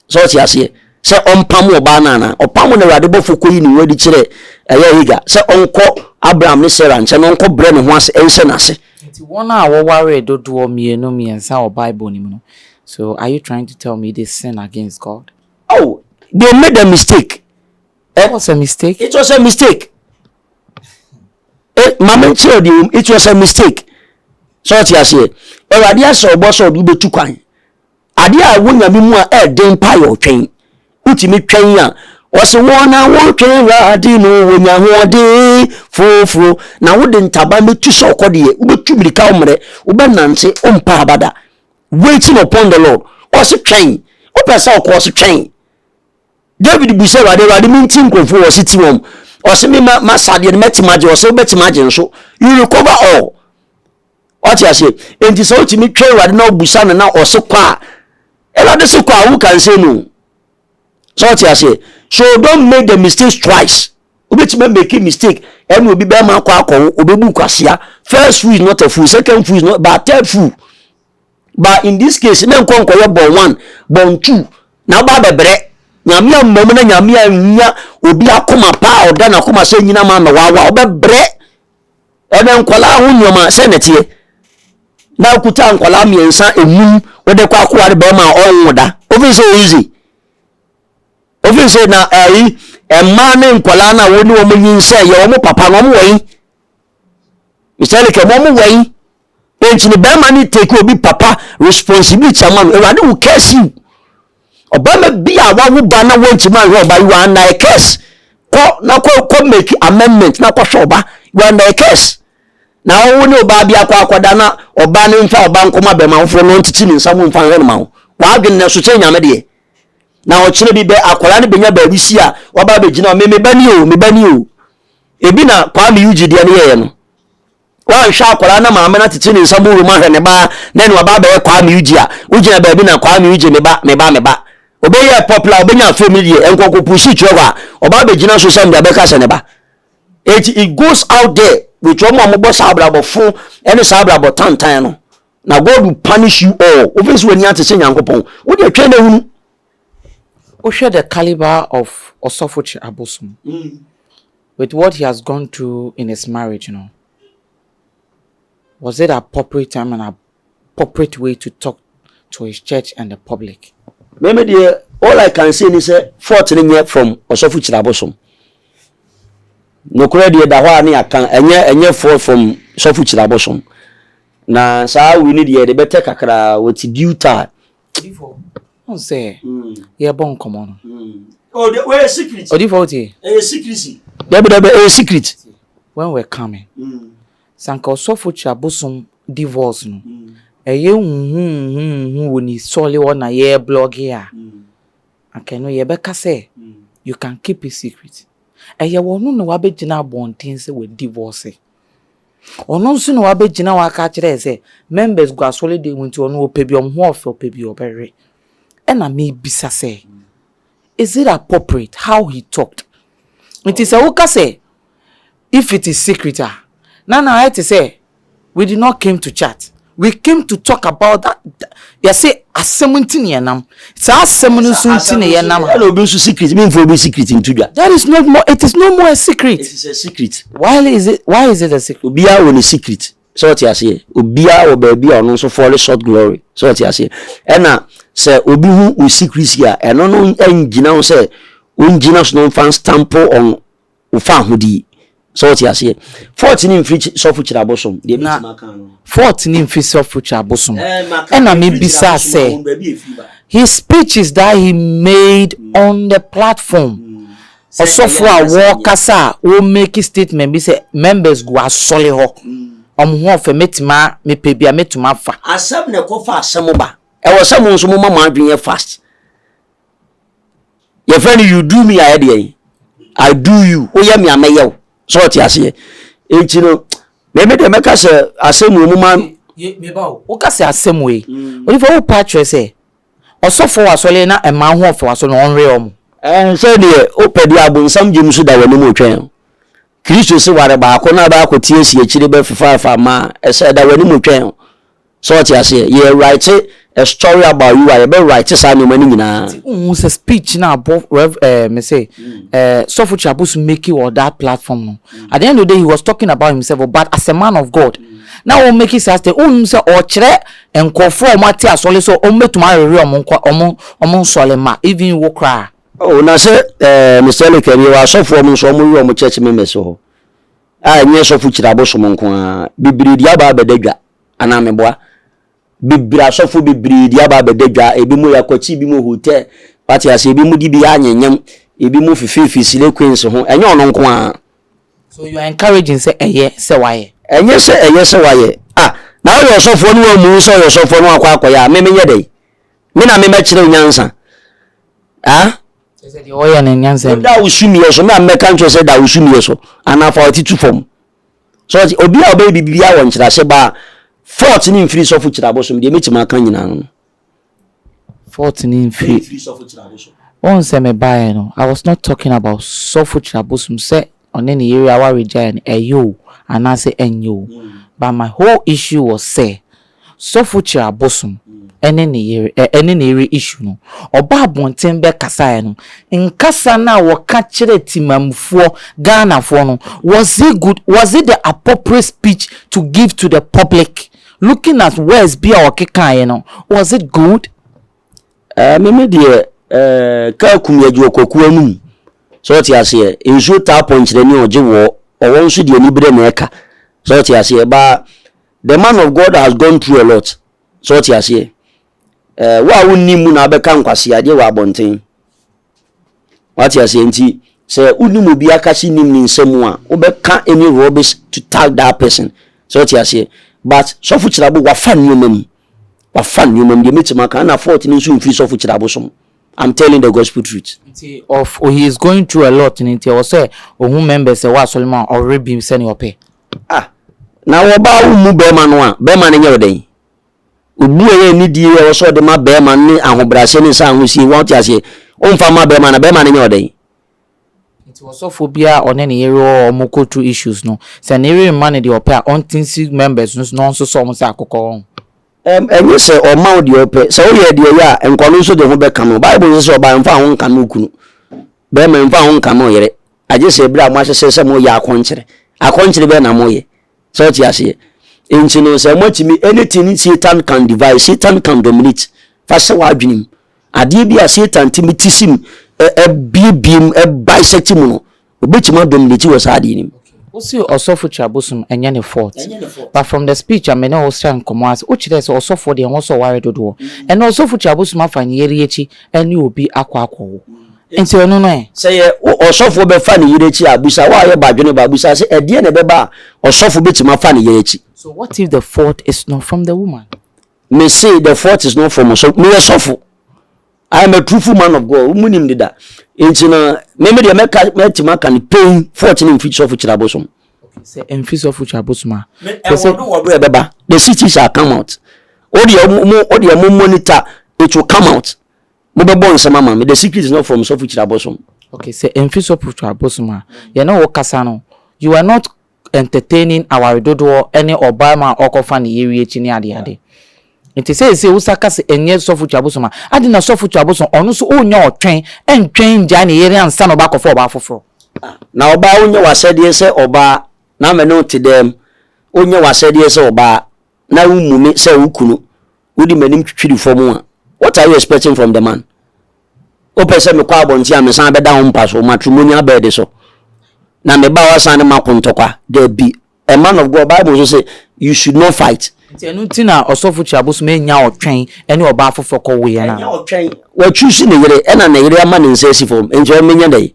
sɛ ɔte aseɛ sɛ ɔmpam ɔbaa no anaa ɔpam no awurade bɔfoɔ kɔyi ne ho adi kyerɛ ɛyɛ Hagar sɛ ɔnkɔ Abraham ne Sarah nkyɛn na ɔnkɔ brɛ ne ho ase nhyɛ n'ase. Nti wɔn a wɔwaree dodoɔ mmienu mmiɛnsa wɔ Bible no mu no so are you trying to tell me they sin against God? Oh they made a mistake. It was a mistake. It was a mistake. Eh, maame nkyerɛ deɛ wɔm it was a mistake. Sɛ ɔte aseɛ awurade ahyɛ ɔbɔ sɛ ɔde wobɛtu kwan Ade a ɛwɔ Nyame mu a ɛyɛ den paa yɛ ɔtwɛn. Wotumi twɛn a, wɔse wɔn a wɔtwɛn Awurade no wɔnya ahoɔden foforo, na wode ntaban bɛtu sɛ ɔkɔdeɛ, wobɛtu mmirika ɔmmerɛ, wobɛnante, wompɛ aba da. Waiting upon the Lord. Ɔse twɛn. Wopɛ sɛ ɔkɔ ɔse twɛn. David bu sɛ Awurade, Awurade menti nkurɔfoɔ wɔ ɔse ti wɔn. Ɔse me ma, ma sadeɛ no mɛtim agye, ɔse wobɛtim agye nso. You recover all. wate aseɛ enti sɛ wotumi twɛn awurade na wobusa no na ɔse kɔ a awurade se kɔ a woka nsɛm mu sɛ wate aseɛ so don't make the mistakes twice wobɛtumi make a mistake ɛne obi bɛma akɔ akɔ wo wobɛbu kwasea first fool is not a fool second fool is not but third fool but in this case na nkɔ nkɔyɛ bɔn one bɔn two na woba bɛbrɛ nyame ammam na nyame anwia obi akoma paa ɔda n'akoma sɛ nyina ma mɛwawa wobɛbrɛ Ɛna nkwadaa ho nneɛma sɛ na ɛteɛ na okuta nkwadaa mmiɛnsa enum wɔde kɔ akoware bɛrima a ɔnwo da ofin sɛ oyizi ofin sɛ na ɛyi mmaa ne nkwadaa na wɔn ne wɔn nyi nsɛ yɛ wɔn papa na wɔn wɔ yi mr leke wɔn wɔ yi. Enti no bɛrima no take obi papa responsibility ama no. Awurade wo curse you. Ɔbɛrima bi a wawo ba na wantumi anhwɛ ɔba you are under a curse. Kɔ na kɔ kɔ make amendment na kɔhwɛ ɔba you are under a curse. Na ɔwo ne ɔbaa bi akɔ akɔda na ɔbaa no mfa ɔba nkɔma bɛrima foforɔ na ɔntete ne nsa mu mfa nhwɛ no ma wo. W'adwene na so kyɛ nyame deɛ. Na ɔkyerɛ bi bɛ akwadaa no bɛnya baabi si a waba abɛgyina me meba ni o meba ni o. Ebi na Kwame Yuji deɛ no yɛɛ no. Woanhwɛ a akwadaa na maame no atete ne nsa gu wura mu ahwɛ ne ba na ɛne waba abɛyɛ kwaa miuji a wogyina baabi na kwaa miuji me ba me ba me ba ɔbɛyɛɛ popular ɔbɛnya afei mu deɛ ɛnkɔ kɔ pusi kyerɛ hɔ a ɔba abɛgyina social media bɛka sɛ ne ba eti it goes out there with wɔn a wɔbɔ saa abrabɔ fo ɛne saa abrabɔ tantan no na God will punish you all wofɛ si w'ani ate sɛ nyankopɔn wode atwɛn na hunu wohwɛ the caliber of ɔsɔfo kye abosom mm. With what he has gone through in his marriage no, was it appropriate time and appropriate way to talk to his church and the public? Meme deɛ all I can say ni sɛ fault no nyɛ from ɔsɔfo Kyirabosom. Nokorɛ deɛ da hɔ a ne yɛaka ɛnyɛ ɛnyɛ fault from sɔfo Kyirabosom. Na saa awi no deɛ yɛde bɛtɛ kakra with due time ɔn sɛ yɛbɔ nkɔmɔ no ɔyɛ secret ɔdifo ɔte ɛyɛ secret dɛbi dɛbi ɛyɛ secret when we're coming sanka ɔsɔfo kyerɛ abosom divorce no ɛyɛ huhuhuhu wɔ ne sɔle hɔ na yɛ blɔge a anka ɛno yɛbɛka sɛ you can keep it secret ɛyɛ wɔn no na wabɛgyina abɔnten sɛ wɔ divorce Ɔno nso na wabɛgyina hɔ aka akyerɛ yɛ sɛ members gu asɔre dan mu nti ɔno ɔpɛ bi ɔmo ho ɔfɛ ɔpɛ bi ɔbɛwe. Ɛna mebisa sɛ is it appropriate how he talked? Nti sɛ woka sɛ if it is secret a na na ayɛ te sɛ we did not came to chat. We came to talk about that. Yɛse asɛm nti na yɛnam. Saa asɛm no nso nti na yɛnam ha. Ɛna obi nso secret. Mi nfa obi secret nto dwa. That is not more. It is no more a secret. It is a secret. Why is it? Why is it a secret? Obiara wɔ ne secret. Sɛ ɔte aseɛ. Obiara wɔ baabi a ɔno nso fall short glory. Sɛ ɔte aseɛ. Ɛna sɛ obi hu o secret a, ɛno no ngyina ho sɛ ɔngyina so na ɔmfa nstampo ɔn wo faahodi. So wote aseɛ? Fort ne mfiri sɔfo kyiri abosom. Deɛ mɛtumi aka ano no. Fort ne mfiri sɔfo kyiri abosom. Ɛna me bisa sɛ, his speeches that he made on the platform, ɔsɔfo a wɔkasa a wɔ make statement bi sɛ members gu asɔre hɔ, wɔn ho ɔfɛ, mɛtumi a, mepɛ bi a mɛtumi afa. Asɛm na ɛkɔ fa asɛm ba. Ɛwɔ sɛ mo nso mo ma mo adwene yɛ fast. yɛfrɛ no you do me ayɛ deɛ yi i do you woyɛ me a mɛyɛ wo sɛ ɔte aseɛ nti no mɛmɛ deɛ mɛka sɛ asɛm wɔ mu ma woka sɛ asɛm wɔ yi mm. onipa wo pa kyerɛ sɛ ɔsɔfoɔ wɔ asɔre na ɛma ho ɔfɛ wɔ asɔre na ɔnwe ɔmo sɛ deɛ wopɛ deɛ abonsam gyem so da w'anim otwɛn kristo se ware baako na baako tie si akyire bɛfefaafa ma ɛsɛ da w'anim otwɛn So ɔte aseɛ? Yɛ write a story about you a yɛbɛ write saa nnoɔma no nyinaa. Nti wonhu sɛ speech no a abɔ Rev eh mese eh Sɔfo Kyiabosu make wɔ that platform no at the end of the day he was talking about himself but as a man of God na ɔ make saa statement wonhu sɛ ɔkyerɛ nkorɔfoɔ a ɔmo ate asɔle sɛ ɔmo bɛtumi awere ɔmo nkwa ɔmo ɔmo nsɔle mma even wo koraa. Oh na sɛ eh Mister Eric ɛne yɛwɔ asɔfoɔ ɔmo nso ɔmo were ɔmo church members wɔ hɔ a ɛnyɛ Sɔfo Kyiabosom nko ara bebree de aba abɛda dwa anaa meboa bebree asɔfo bebree de aba abɛda dwa ebi mo yɛ akwati ebi mo hotel wate ase ebi mo de bi anyanyam ebi mo fifeefi sile queens ho ɛnyɛ ɔno nko ara. so you are encouraging sɛ ɛyɛ sɛ wayɛ. ɛnyɛ sɛ ɛyɛ sɛ wayɛ ah na woyɛ ɔsɔfoɔ ne wammu wo sɛ ɔyɛ ɔsɔfoɔ na wakɔ akɔyɛ a me menyɛ dɛn me na me mɛkyerɛ wo nyansa ah kyerɛ sɛ deɛ ɔyɛ no nyansa ni da wo sumiɛ so me a mɛka nkyerɛ sɛ da wo sumiɛ so anaa fa w'ati tu fam. So ɔte? Obi a ɔbɛyɛ biribiara wɔ nkyerɛase ba a, fault no mfiri sɔfo kyirabo so, mede mɛtumi aka nyinaa no no. Fault no mfiri, wohu sɛ me baeɛ no, I was not talking about sɔfo kyirabosom sɛ ɔne ne yere aware gyaeɛ no ɛyɛ o, anaasɛ ɛnyɛ o, but my whole issue was sɛ, Sɔfo Kyira Bosom ne ne yere ne ne yere issue no, ɔbaa abɔnten bɛkasaeɛ no, nkasa no a wɔka kyerɛɛ Temammufoɔ, Ghanafoɔ no, was it good, was it the appropriate speech to give to the public, looking at words bi a ɔkekaeɛ no, was it good? Ɛɛ me me deɛ ɛɛ kaa kum yɛgye wɔ kwaku anum sɛ ɔte aseɛ nsuo taa pɔnkyerɛ ne ɔgye wɔ ɔwɔ nso deɛ ani berɛ na ɛka sɛ ɔte aseɛ baa The man of God has gone through a lot sɛ ɔte aseɛ eh, wo a wonni mu na abɛka nkwasi adeɛ wɔ abɔnten wate aseɛ nti sɛ wonim obi akase nim ne nsɛm a wobɛka any rubbish to tag that person sɛ ɔte aseɛ but sɔfo kyerɛbo wafa nneɛma mu wafa nneɛma mu deɛ mɛtumi aka ana fort no nso mfiri sɔfo kyerɛbo som I'm telling the gospel truth. Nti of oh, he is going through a lot nti ɛwɔ sɛ ohun members ɛwɔ asɔre mu a ɔwere bi sɛnea ɔpɛ. Ah, na wɔbaa wo mu bɛrima no a, bɛrima no nyɛ wo dɛn? Obu a ɛyɛ anidie a ɛwɔ sɛ ɔde ma bɛrima no ne ahobrɛaseɛ ne nsa ahosie, wɔte aseɛ, ɔmfa mma bɛrima no a, bɛrima no nyɛ wo dɛn? Nti ɔsɔfoɔ biara a ɔne ne yere wɔ wɔn cultural issues no, sɛ ne yere mma no deɛ ɔpɛ a, ɔnte nsi members no so na ɔnsosɔ wɔn sɛ akokɔ, wahu? Ɛm, ɛnyɛ sɛ ɔmma wo deɛ ɔpɛ. Sɛ woyɛ deɛ ɛyɛ a, nkwa no nso de ho bɛkame wo. Bible nso sɛ ɔbaa mfa wo ho nkame wo kunu, bɛrima mfa wo ho nkame wo yere, Agye sɛ bere a moahyehyɛ sɛ moreyɛ akɔnkyere. Akɔnkyere bɛn na moreyɛ? So wote aseɛ? Enti no, sɛ moatumi, anything Satan can devise, Satan can dominate. Fa hyɛ w'adwene mu. Adeɛ bi a Satan tumi ti sim, ɛbiebie mu, ɛbisect mu no, obɛtumi adominate wɔ saa adeɛ no mu. Wose ɔsɔfo twa bosom ɛnyɛ ne fault but from the speech a me ne wo srɛ nkɔmmɔ ase wokyerɛɛ sɛ ɔsɔfoɔ deɛ ɛwɔ sɛ ɔware dodoɔ ɛnna ɔsɔfo twa bosom afa nyeri akyi ɛne obi akɔ akɔwo Nti ɔno no ɛ? Sɛ yɛ wo ɔsɔfoɔ bɛfa ne yere akyi a, bisa wo a woyɛ badwene ba, bisa sɛ, Ɛdeɛn na ɛbɛba a ɔsɔfo bɛtumi afa ne yere akyi? So what if the fault is not from the woman? Mese, the fault is not from ɔsɔfo. Meyɛ sɔfo. I am a truthful man of God. Monim deda. Nti no, me me deɛ mɛka mɛtumi aka no pɛn fault no mfiri sɔfo kyerɛ abosom. Sɛ ɛmfiri sɔfo kyerɛ abosom a. Ɛwɔ do wɔ do ɛbɛba. The cities shall come out. Wodeɛ mo wodeɛ mo monitor it will come out. mo bɛ bɔ nsɛm ama me the secret is not from sɔfo kyiri abosom. okay sɛ ɛnfi sɔfo kyiri abosom a yɛn ne wo kasa no you are not entertaining aware dodoɔ ɛne ɔbaa ma a ɔkɔ fa ne yere akyi ne ade ade nti sɛ ɛsɛ wosa ka sɛ ɛnyɛ sɔfo kyiri abosom a adi na sɔfo kyiri abosom ɔno nso ɔnya ɔtwɛn ɛntwɛn ngyae ne yere ansa na ɔba akɔfa ɔbaa foforɔ. na ɔbaa ɔnyɛ wasɛdeɛ sɛ ɔbaa na ama ne wo te dɛm ɔnyɛ wasɛdeɛ sɛ ɔbaa na wommu me sɛ wo kunu, wode m'anim twitwiri fam a, what are you expecting from the man? Wopɛ sɛ mekɔ abɔnten a mesan bɛda wo mpa so, matrimonial bed so, na me ba wasan ne mako ntɔkwa? Dabi. A man of God, Bible nso sɛ, you should not fight. Nti ɛno nti na ɔsɔfo kyi abosom anya ɔtwɛn ɛne ɔbaa foforɔ kɔ weɛ no anaa? Ɛnyɛ ɔtwɛn. Wa choose ne yere ɛna ne yere ama ne nsa asi fam, nti ɔmmɛnya dɛn?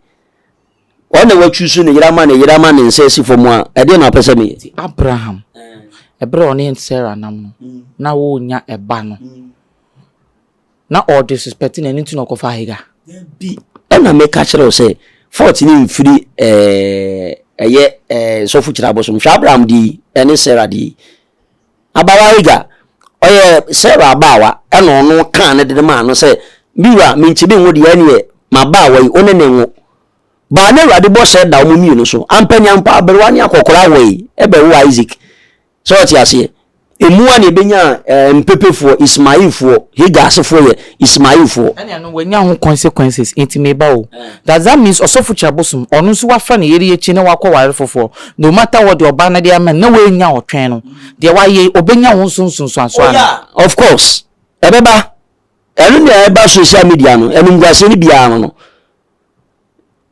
Ɔn na wa chuusu ne yere ama ne yere ama ne nsa asi fɔm a, ɛdeɛ na ɔpɛ sɛ me yɛ? Abraham, ɛberɛ a ɔne Sarah nam no, na wɔnnya ɛba no, na ɔde suspɛte no, ɛno nti na ɔkɔfaa Hagar? Dabi, ɛna me ka kyerɛ wo sɛ, fɔɔte no mfiri ɛɛ, ɛyɛ ɛɛ, sɔfo kyiri abosom, hwɛ Abraham deɛ yi, ɛne Sarah deɛ yi, Abaawa Hagar, ɔyɛ Sarah abaawa, na ɔno kãa no de no maa no sɛ, Me wura, minkyi me ngo de, ɛnneɛ m'abaawa yi, wo ne no nwo. Baa no Awurade bɔhyɛ da wɔn mmienu so. Ampa nya mpo, aberewa ne akɔkoraa woe, ɛbɛwoo Isak. Sɛ ɔte aseɛ? Emu a na ɛbɛnyaa eh, mpepefoɔ, Ismailfoɔ, Hagar asefoɔ yɛ Ismailfoɔ. Ɛnneɛ no, wanya ho consequences, enti me ba o. Does that means ɔsɔfokyia bosom, ɔno nso wɔafra no yere akyi na wakɔware foforɔ? No matter what deɛ ɔbaa no de ama no na woannya wo twɛn no deɛ wayɛ yi ɔbɛnya wo nso nsunsuansoɔ oh, yeah. of course ɛbɛba ɛno nea ɛba social media no animguaseɛ no biara ho no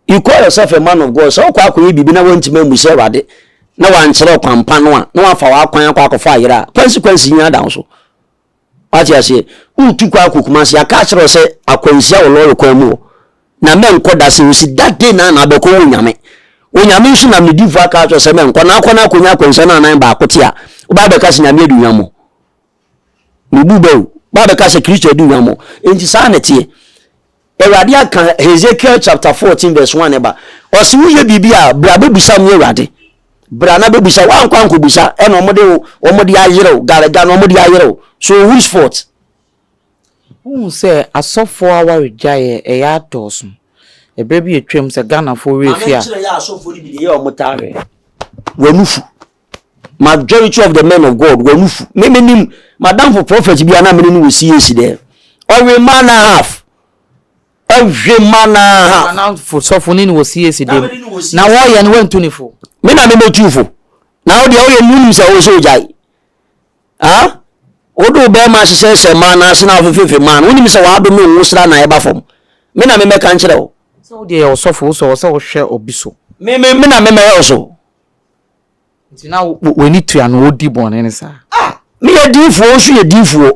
you call yourself a man of God sɛ wokɔ akɔyɛ biribi na woantumi ammu sɛ awurade na wankyerɛ ɔkwampa no a na wafa w'akwan akɔ akɔfa ayerɛ a consequence nyina da wo so Wate aseɛ? Woretu kwan akɔ Kumasi, aka akyerɛ wo sɛ akwanhyia wɔ lɔre kwan mu hɔ, na mɛnkɔ da. Sɛ ɔsi that day no ara na abɛkɔ wɔ Onyame. Onyame nso nam ne difoɔ aka akyerɛ wo sɛ mɛnkɔ, na akɔ na akɔnya akwanhyia no anan baako te a, wobaa bɛka sɛ Nyame adi hwammɔ. Mebu bɛ o, wobaa bɛka sɛ Kristo adi hwammɔ. Enti saa na ɛteɛ. Awurade aka Hesekiel chapter fourteen verse one ba. Ɔsi wo yɛ biribi a bra bɛbusa mi Awurade. Bra na bɛbusa wankɔ ankɔbusa ɛna wɔn de wɔn de ayerew galaga na wɔn de ayerew so whose fault. Wohu sɛ asɔfoɔ awaregyaeɛ ɛyɛ adɔɔso. Ɛberɛ bi atwam sɛ Ghanafoɔ werɛ fi a. Maame nkyerɛ yɛ asɔfoɔ no bi deɛ yɛ wɔn tareɛ. W'ani fu. majority of the men of god wɔn nufu me me nim madamfo prophet bi a na mene no wɔ cac dɛ ɔwe mma and a half ɔwe mma and a half. anamfo sɔfo ne no wɔ cac dɛm na wɔyɛ no wɔntu ne fo. me na mema tu fo na wo deɛ woyɛ munim sɛ wo sɛ ogyae ah wode wo bɛrima ahyehyɛ hyɛ mmaa no ase na wofefefe mmaa no wonim sɛ wɔadome wo sra na ɛba fam me na memɛka nkyerɛ wo. sɛ wo deɛ yɛ ɔsɔfo wo sɛ wɔ sɛ wohwɛ obi so. me me me na memɛyɛ wo so. Nti na w'ani tua no odi bɔne no saa? Ah, meyɛ diifoɔ, nso yɛ diifoɔ.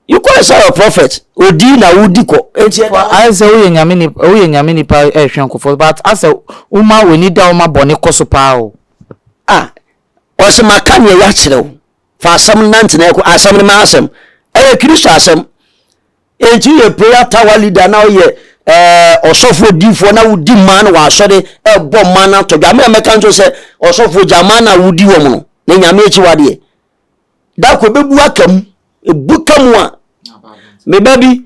You call yourself a prophet, odi na wodi kɔ. Nti ɛda hɔ. Ayɛ sɛ woyɛ nyame nipa, woyɛ nyame nipa ɛhwɛ nkɔfɔ, but asɛ woma w'ani da hɔ ma bɔne kɔ so paa o. Ah, ɔse maka nea yɛakyerɛ wo, fa asɛm no nante na ɛkɔ, asɛm no m'asɛm, ɛyɛ Kristo asɛm, Enti yɛ prayer tower leader na ɔyɛ eh, ɔsɔfo odiifoɔ na wodi mmaa no wɔ asɔre ɛbɔ mmaa no atɔ dwa mmerɛ mɛka nso sɛ ɔsɔfo gya mmaa no a wodi wɔn no na nyame akyiwadeɛ da ko ɛbɛbu aka mu ɛbu ka mu a meba bi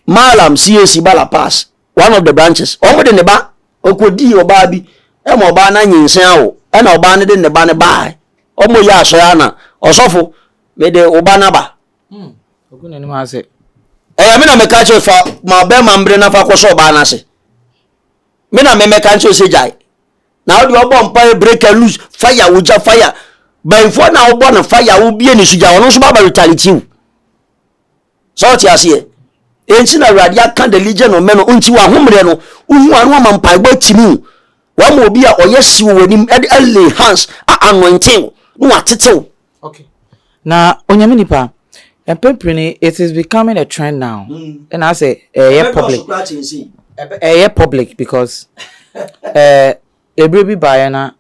malam cac bala pass one of the branches wɔn de ne ba ɔkɔdii ɔbaa bi ɛma ɔbaa no anyensen awo ɛna ɔbaa no de ne ba no baa ɔmɔ yɛ asɔre ana ɔsɔfo mede wo ba no aba Hmm. Ogu n'anim ase. Ɛyɛ me na meka kyerɛ fa ma bɛrima mbere na fa kɔsɔ ɔbaa no ase. Me na memɛka nkyerɛ sɛ gyae. Na wode ɔbɔ mpa yɛ break and loose fire wogya fire. Bɛnfoɔ na wobɔ no fire wobie ne so gya ɔno nso baba retaliate wo. Sɛ ɔte aseɛ. Ɛnti na awurade aka the legion of men nti wahommerɛ no wohu ano ama mpaebɔ atimi wo. Wama obi a ɔyɛ hye wɔ w'anim ɛde lay hands a anointing wo na watetew Okay. Na onyame nipa mpɛn pii no it is becoming a trend now. Ɛna asɛ ɛyɛ public. Ɛyɛ public because ɛɛ ebire bi baayɛ na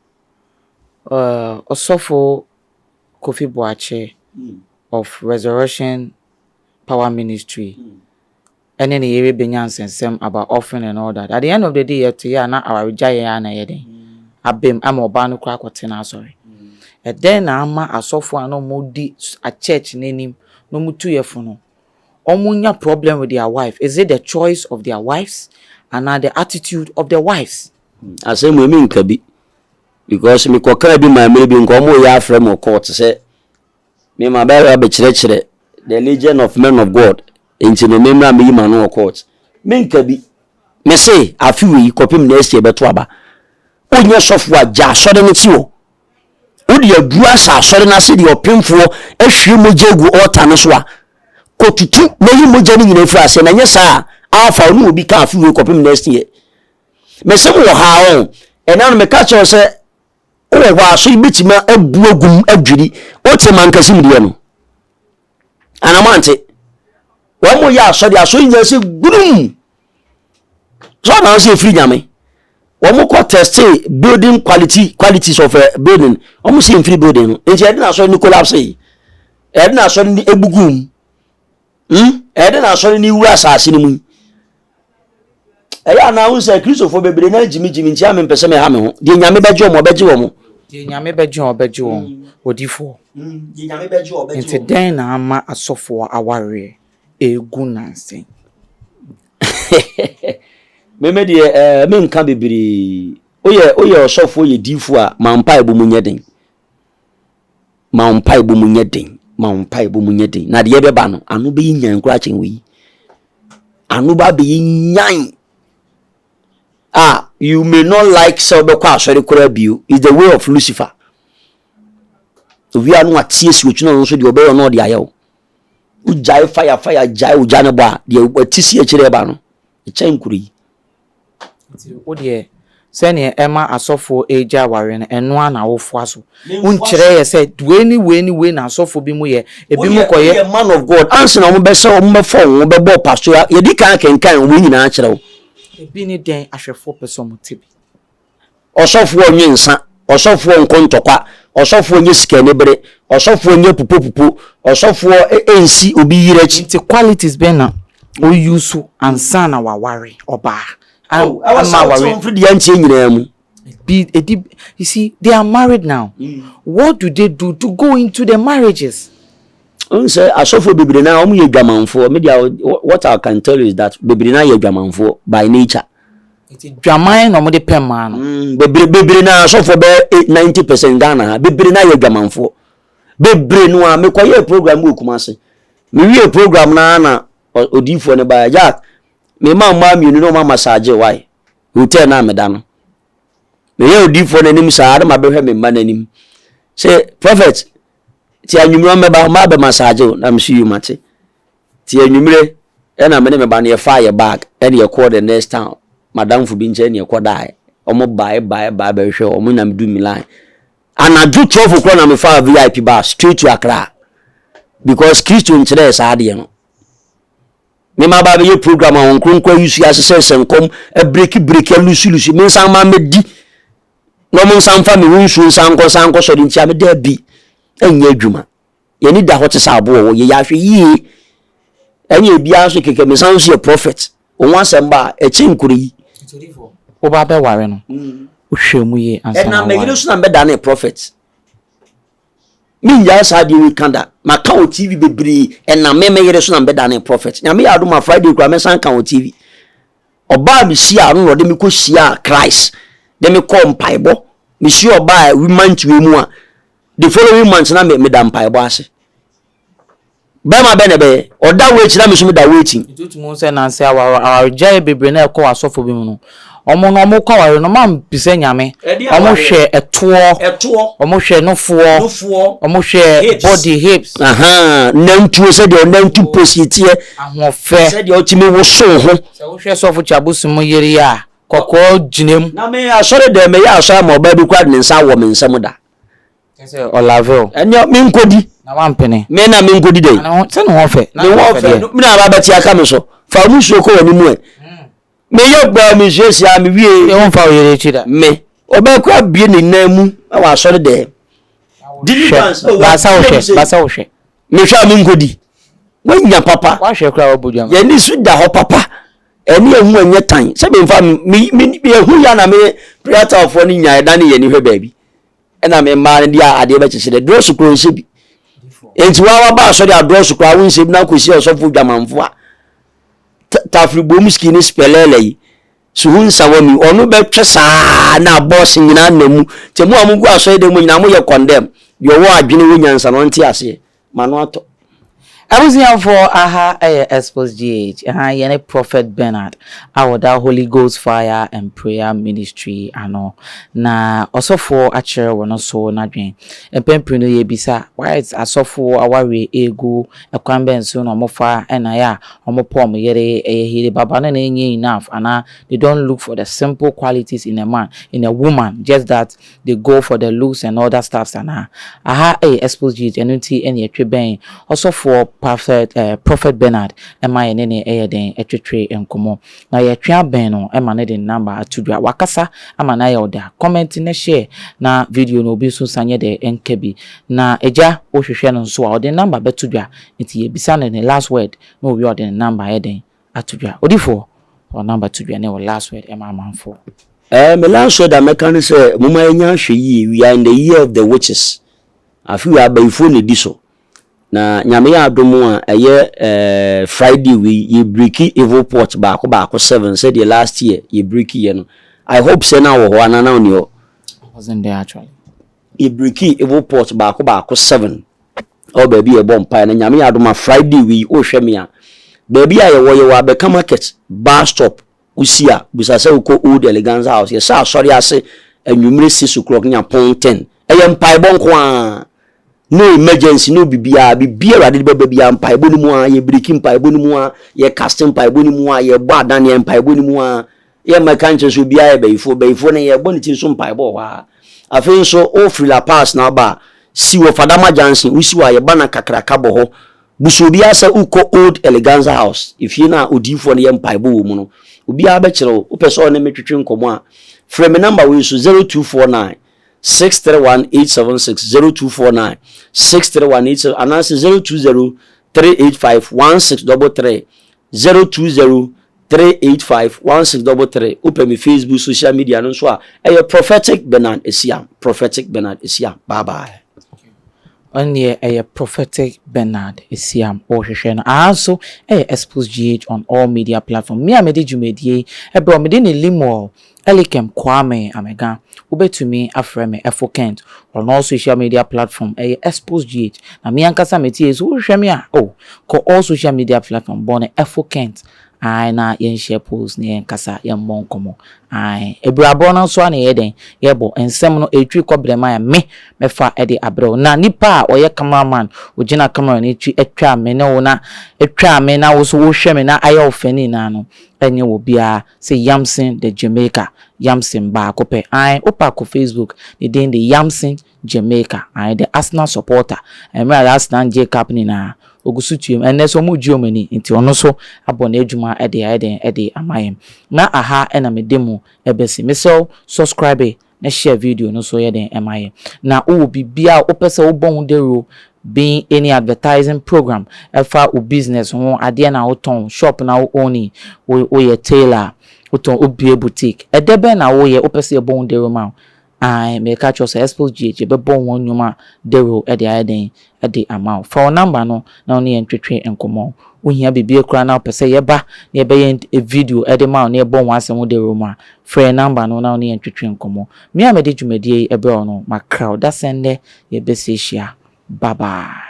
ɛɛ ɔsɔfo Kofi Boakye of Resurrection Power Ministry. ne ne yere benya nsɛnsɛm about offering and all that. At the end of the day, yɛto yɛ a na awaregyaeɛ ara na ɛyɛ dɛn? Abam ama ɔbaa no koraa kɔte n'asɔre. Ɛdɛn na ama asɔfoɔ a na wɔdi church no anim na wɔtu yɛ fo no, wɔnya problem with their wife? Is it the choice of their wives anaa the attitude of the wives? Asɛm wei menka bi because mekɔkaa bi maa mmere bi nka wɔreyɛ afrɛ me wɔ court sɛ Me ma bɛyɛ a bɛkyerɛkyerɛ the legion of men of God nti no me mmra meyi m'ano wɔ court me nka bi. Me se afe wei kɔpem next year bɛto aba wo nyɛ sɔfo a gya asɔre no te hɔ wo de aduru asa asɔre no ase deɛ ɔpemfoɔ ahwie mogya agu ɔta no so a kɔtutu na yi mogya no nyina firi aseɛ na nyɛ saa a afa wo ne obi ka afe wei kɔpem next year. Me se mo wɔ ha ɔn ɛna no me ka kyerɛ sɛ wowɔ hɔ a so ibɛtumi abu agum adwiri wote mankasim deɛ no anamante wɔn mo yɛ asɔre asɔre nyinaa sɛ gburum so ɔna sɛ efiri nyame wɔn mo kɔ teste building quality qualities of a eh, building wɔn mo sɛ efiri building no nti ɛde na asɔre no collapse yi ɛde na asɔre no ebugu mu. Hmm? Ɛyɛ dɛ na asɔre no wura asase no mu yi. Ɛyɛ anaa wo sɛ Kristofo bebree na gyimigyimi nti a mempɛ sɛ meha me ho. Deɛ Nyame bɛgye wɔn, ɔbɛgye wɔn. Deɛ Nyame bɛgye wɔn, ɔbɛgye wɔn. Hmm. Odifoɔ. Hmm. Deɛ Nyame bɛgye wɔn, ɔbɛgye wɔn. Nti dɛn na ama asɔfoɔ awareɛ ɛregu nanse? Meme deɛ ɛɛ eh, menka bebree. Woyɛ woyɛ ɔsɔfoɔ yɛ diifoɔ a ma mpaebɔ mu nyɛ den. Ma wo mpaebɔ mu nyɛ den. Ma wo mpaebɔ mu nyɛ den. Na deɛ ɛbɛba no, ano bɛyɛ nyan koraa kyɛn wei. Ano ba bɛyɛ nyan. Ah, you may not like sɛ wobɛkɔ asɔre koraa bio. It's the way of Lucifer. Owia no wateɛ si otwene ɔno nso deɛ ɔbɛyɛ ɔno ɔde ayɛ wo. Wogyae fire fire gyae ogya no bɔ a, deɛ wati si akyire ɛba no, Ɛkyɛn kuro yi. Nti wo deɛ sɛdeɛ ɛma asɔfoɔ regya awareɛ no ɛno ara na wofoa so? Wonkyerɛ yɛ sɛ wei ne wei ne wei na asɔfoɔ bi mo yɛ, ebi mo kɔyɛ. Woyɛ man of God ansa na wɔbɛhyɛ wɔn bɛfa wɔn ho bɛbɔ paso a yɛdi kan akenkan wɔn nyinaa akyerɛ wo. Ebi ne dɛn ahwɛfoɔ pɛ sɛ wɔte bi. ɔsɔfoɔ nnwe nsa, ɔsɔfoɔ nnkɔ ntɔkwa, ɔsɔfoɔ nnyɛ sika-anibere, ɔsɔfoɔ nnyɛ pupopupo, ɔsɔfoɔ nnsi obi yere akyi. Nti qualities bɛn na o use ansa na w'aware ɔbaa? Oh, ɛwɔ sɛ wote wo mfiri deɛ nteɛ nyinaa mu. Be, ɛdi, you see, they are married now, mm. what do they do to go into their marriages? n sɛ asɔfoɔ bebree na wɔn yɛ dwamanfoɔ media what I can tell you is that bebree na yɛ dwamanfoɔ by nature Nti dwaman na wɔde pɛ mmaa no. Mm, bebree bebree na asɔfoɔ bɛ eh, ninety percent Ghana ha bebree na yɛ dwamanfoɔ bebree no a mekɔ yɛ program wɔ Kumasi me wie program na na odiifoɔ ne ba ya me ma mmaa mmienu na ɔma masaagye wae hotel na meda no meyɛ odiifoɔ n'anim saa na ma bɛhwɛ me mma n'anim sɛ prophet ti anwummerɛ mɛba ɔma bɛ masaagye na mesu yi mate. Ntsi ewimbir na me ne me ba no yɛfaa yɛ bag na yɛkɔr the next town, m'adamfo bi nkyɛn na yɛkɔdae. Wɔn bae bae bae bɛhwehwɛɛ hɔ, wɔn na meduu Milan. Anadwo twelve o'clock na mefaa VIP bus straight to Accra because Kristo nkyerɛɛ saa adeɛ no. Me ma ba bɛyɛ program a wɔn kronkron ayusu ahyehyɛ sɛ nkɔm abireki bireki alusu lusu me nsan ma mɛdi na wɔn nsan fa me ho nsuo nsan nkɔ nsan nkɔ sɔre nti a me daabi ɛnyɛ adwuma. Yɛn ani da hɔ te sɛ aboɔ wɔ yɛ yɛ ahwɛ yie ɛnyɛ ebiara nso kɛkɛ me san nso yɛ prophet wɔn asɛm ba a ɛkyɛ nkuro yi. Wo ba bɛ ware no wo hwɛ mu yie ansa na waware. Ɛnam me yere so na mbɛ da ne prophet me ngyaa saa adeɛ wei ka da ma ka wɔ tv bebree ɛnam me me yere so na mbɛ da ne prophet nyame yɛ adoma friday kura mɛ san ka wɔ tv ɔbaa me si a no na ɔde me kɔ si a christ de me kɔ mpaebɔ me si ɔbaa wi mantue mu a the following month na me da mpaebɔ ase bɛrima bɛn na ɛbɛyɛ ɔda wo akyi na me nso meda wo akyi. nti wotumi hu sɛ nanse aware awaregyaeɛ bebree na ɛkɔ asɔfo bi mu no wɔn no wɔn kɔ aware no wɔn ampisɛ nyame wɔn hwɛ ɛtoɔ wɔn hwɛ nofoɔ wɔn hwɛ body hips. nantuo sɛdeɛ ɔnantu oh. positiɛ ahoɔfɛ sɛdeɛ ɔtumi woso ho. sɛ wohwɛ sɔfo kyabosi mu yere a kɔkɔɔ gyina mu. na me asɔre dɛm meyɛ asɔre ama ɔbaa bi kura ne nsa wɔ me nsam da. Kyɛ sɛ ɔlaveo. Ɛnneɛ menkɔdi. Na wampene. Me na menkɔdi dɛn? Na sɛ ne ho fɛ. Ne ho fɛ no na aba bɛte aka me so. Fa wo nsuo kɔ w'anim ɛ. Hmm. Meyɛ baa me nsuo si a mewie. Yɛ wo mfa wo yere akyi da. Me. Ɔbɛkɔ abie ne nan mu na wasɔre dɛm. Deliverance. Oh, basa wo hwɛ. Basa wo hwɛ. Mehwɛ a menkɔdi. Wanya papa. Wahwɛ koraa wabɔ dwama. Yɛni so da hɔ papa. Ɛne ehu ɛnyɛ tan. Sɛ me nfa me me me ehu ya na me preatalfoɔ no nya ɛdane yɛ ni hwɛ baabi. Ɛna me mmaa no de adeɛ bɛkyekyere dɛ drɔso kura nhyɛ bi. Enti wa waba asɔre a drɔso kura awo nhyɛ bi na akɔsi ɔsɔfo dwamanfo a. Tafiri bom ski ne spɛlɛlɛ yi. Suhu nsa wɔ mi. Ɔno bɛtwe saa na bɔs nyinaa na mu. Tɛ mu a mo gu asɔre dɛ mu nyinaa mo yɛ kɔndɛm. Deɛ ɔwɔ adwene wɔ nyansa na ɔnte aseɛ. M'ano atɔ. Abusuafoɔ aha yɛ Expos GH, ɛha yɛ ne Prophet Bernard a ɔda Holy Ghost Fire and Prayer Ministry ano, na ɔsɔfoɔ akyerɛ wɔn so n'adwene. Mpɛn pii no yɛrebisa, Whites asɔfoɔ awareɛ regu kwan bɛn so na wɔfa na yɛ a wɔpɔ wɔn yere? Ɛyɛ hiribaba no na ɛnyɛ enough anaa? They don't look for the simple qualities in a man, in a woman, just that They go for the looks and all that stuffs anaa? Aha yɛ exposed youth ɛno nti na yɛtwe bɛn ɔsɔfoɔ Prophet eh Prophet Bernard ma yɛne no yɛ dɛn twetwe nkɔmmɔ. Na yɛtwe abɛn no ma no de ne number ato dwa. Wakasa ama no ayɛ ɔda. Comment na share na video no obi nso nsa nyɛ dɛ nka bi. Na agya wohwehwɛ no nso a ɔde ne number bɛto dwa nti yɛbisa no ne last word na owie a ɔde ne number ayɛ dɛn ato dwa. Odifoɔ, wɔ number to dwa ne wɔ last word ma amanfoɔ. Eh me last word a mɛka ne sɛ momma yɛnyɛ ahwɛyie we are in the year of the witches afe wei abayifoɔ na ɛdi so na Nyame yɛ adom a ɛyɛ eh Friday wei yɛ breaki evil port baako baako seven sɛdeɛ last year yɛ breaki yɛ no I hope sɛ na wɔ hɔ anaa na wonni hɔ? I wasn't there actually. Yɛ breaki evil port baako baako seven. Ɔwɔ baabi a yɛbɔ mpaeɛ no nyame yɛ adom a Friday wei wohwɛ me a baabi a yɛwɔ yɛwɔ abɛka market bus stop wosi a bisa sɛ wokɔ old eleganza house yɛhyɛ asɔre ase anwummere six o'clock nya pon ten ɛyɛ mpaebɔ nko a no emergency no bibiara bibi awurade de bɛba biara mpaebɔ no mu a yɛ biriki mpaebɔ no mu a yɛ casting mpaebɔ no mu a yɛbɔ adaneɛ mpaebɔ no mu a Yɛmmɛka nkyerɛ sɛ obiara yɛ bayifoɔ. Bayifoɔ no, yɛbɔ ne tiri so mpaebɔ wɔ hɔ ara. Afei nso, wofiri La Paz na woba a, si wɔ Fadama Junction. Wosi hɔ a, yɛba na kakraka bɔ hɔ. Busa obiara sɛ wokɔ Old Eleganza House, efie no a odiyifoɔ no yɛ mpaebɔ wɔ mu no. Obiara bɛkyerɛ wo. Wopɛ sɛ ɔne me twetwe nkɔmmɔ a, frɛ me nɔmba wei so, 0249 631876, 0249 631876 anaasɛ 0203851633, 0203. three eight five one six double three wopɛ me facebook social media no nso a ɛyɛ prophetic bernard esiam prophetic bernard esiam bye bye. ɔneɛ ɛyɛ prophetic bernard esiam ɔhwehwɛ no aha nso ɛyɛ expose gh on all media platform me a mede dwumadie yi ɛbrɛ mede ne limoil Elikem Kwame Amega, wobɛtumi afrɛ me Efo Kent, ɔno social media platform ɛyɛ Exposgh, na me ankasa me tie, so wohwehwɛ me a oh, kɔ all social media platform bɔ no Efo Kent ae na yɛn share post na yɛn nkasa, yɛn mmɔ nkɔmmɔ ae. Abirabɔ no nso a na yɛyɛ dɛn yɛbɔ, nsɛm no ɛretwiri kɔ brɛm a me mɛfa de abrɛ wo, na nipa a ɔyɛ camera man, ɔgyina camera no akyi twa me ne wo na, twa me na wo nso wohwɛ me na ayɛ wo fɛ ne nyinaa no, ɛnyɛ wɔ biara. Sɛ Yamson the Jamaica Yamson baako pɛ ae wopa kɔ Facebook ne din de Yamson Jamaica ae the Arsenal supporter ɛmmerɛ a Arsenal ngye cup nyinaa ogu so tuam ɛnnɛ nso ɔmo gye ɔmo ani nti ɔno nso abɔ n'adwuma de ayɛ dɛn de ama yɛn na aha na mede mo bɛsi mesrɛ wo subscribe na share video no so yɛ den ma yɛ na wowɔ biribi a wopɛ sɛ wobɔ ho dawuro being any advertising program ɛfa wo business ho adeɛ na wotɔn shop na wo own wo woyɛ tailor a wotɔn wobue boutique ɛdɛ bɛn na woyɛ wopɛ sɛ yɛbɔ ho dawuro ma wo ae meka kyerɛ sɛ Expo GH yɛbɛbɔ ho nnwuma dawuro de ayɛ den de ama wo. Fa wo number no na wo ne yɛn ntwetwe nkɔmmɔ. Wo hia biribiara koraa na wo pɛ sɛ yɛ ba na yɛ bɛ yɛ video de ma wo na yɛ bɔ ho asɛm ho dawuro mu a, frɛ yɛn number no na wo ne yɛn ntwetwe nkɔmmɔ. Me a me de dwumadie yi brɛ wo no, ma kra wo da sɛ nnɛ yɛ bɛ sɛ hyia. Bye bye.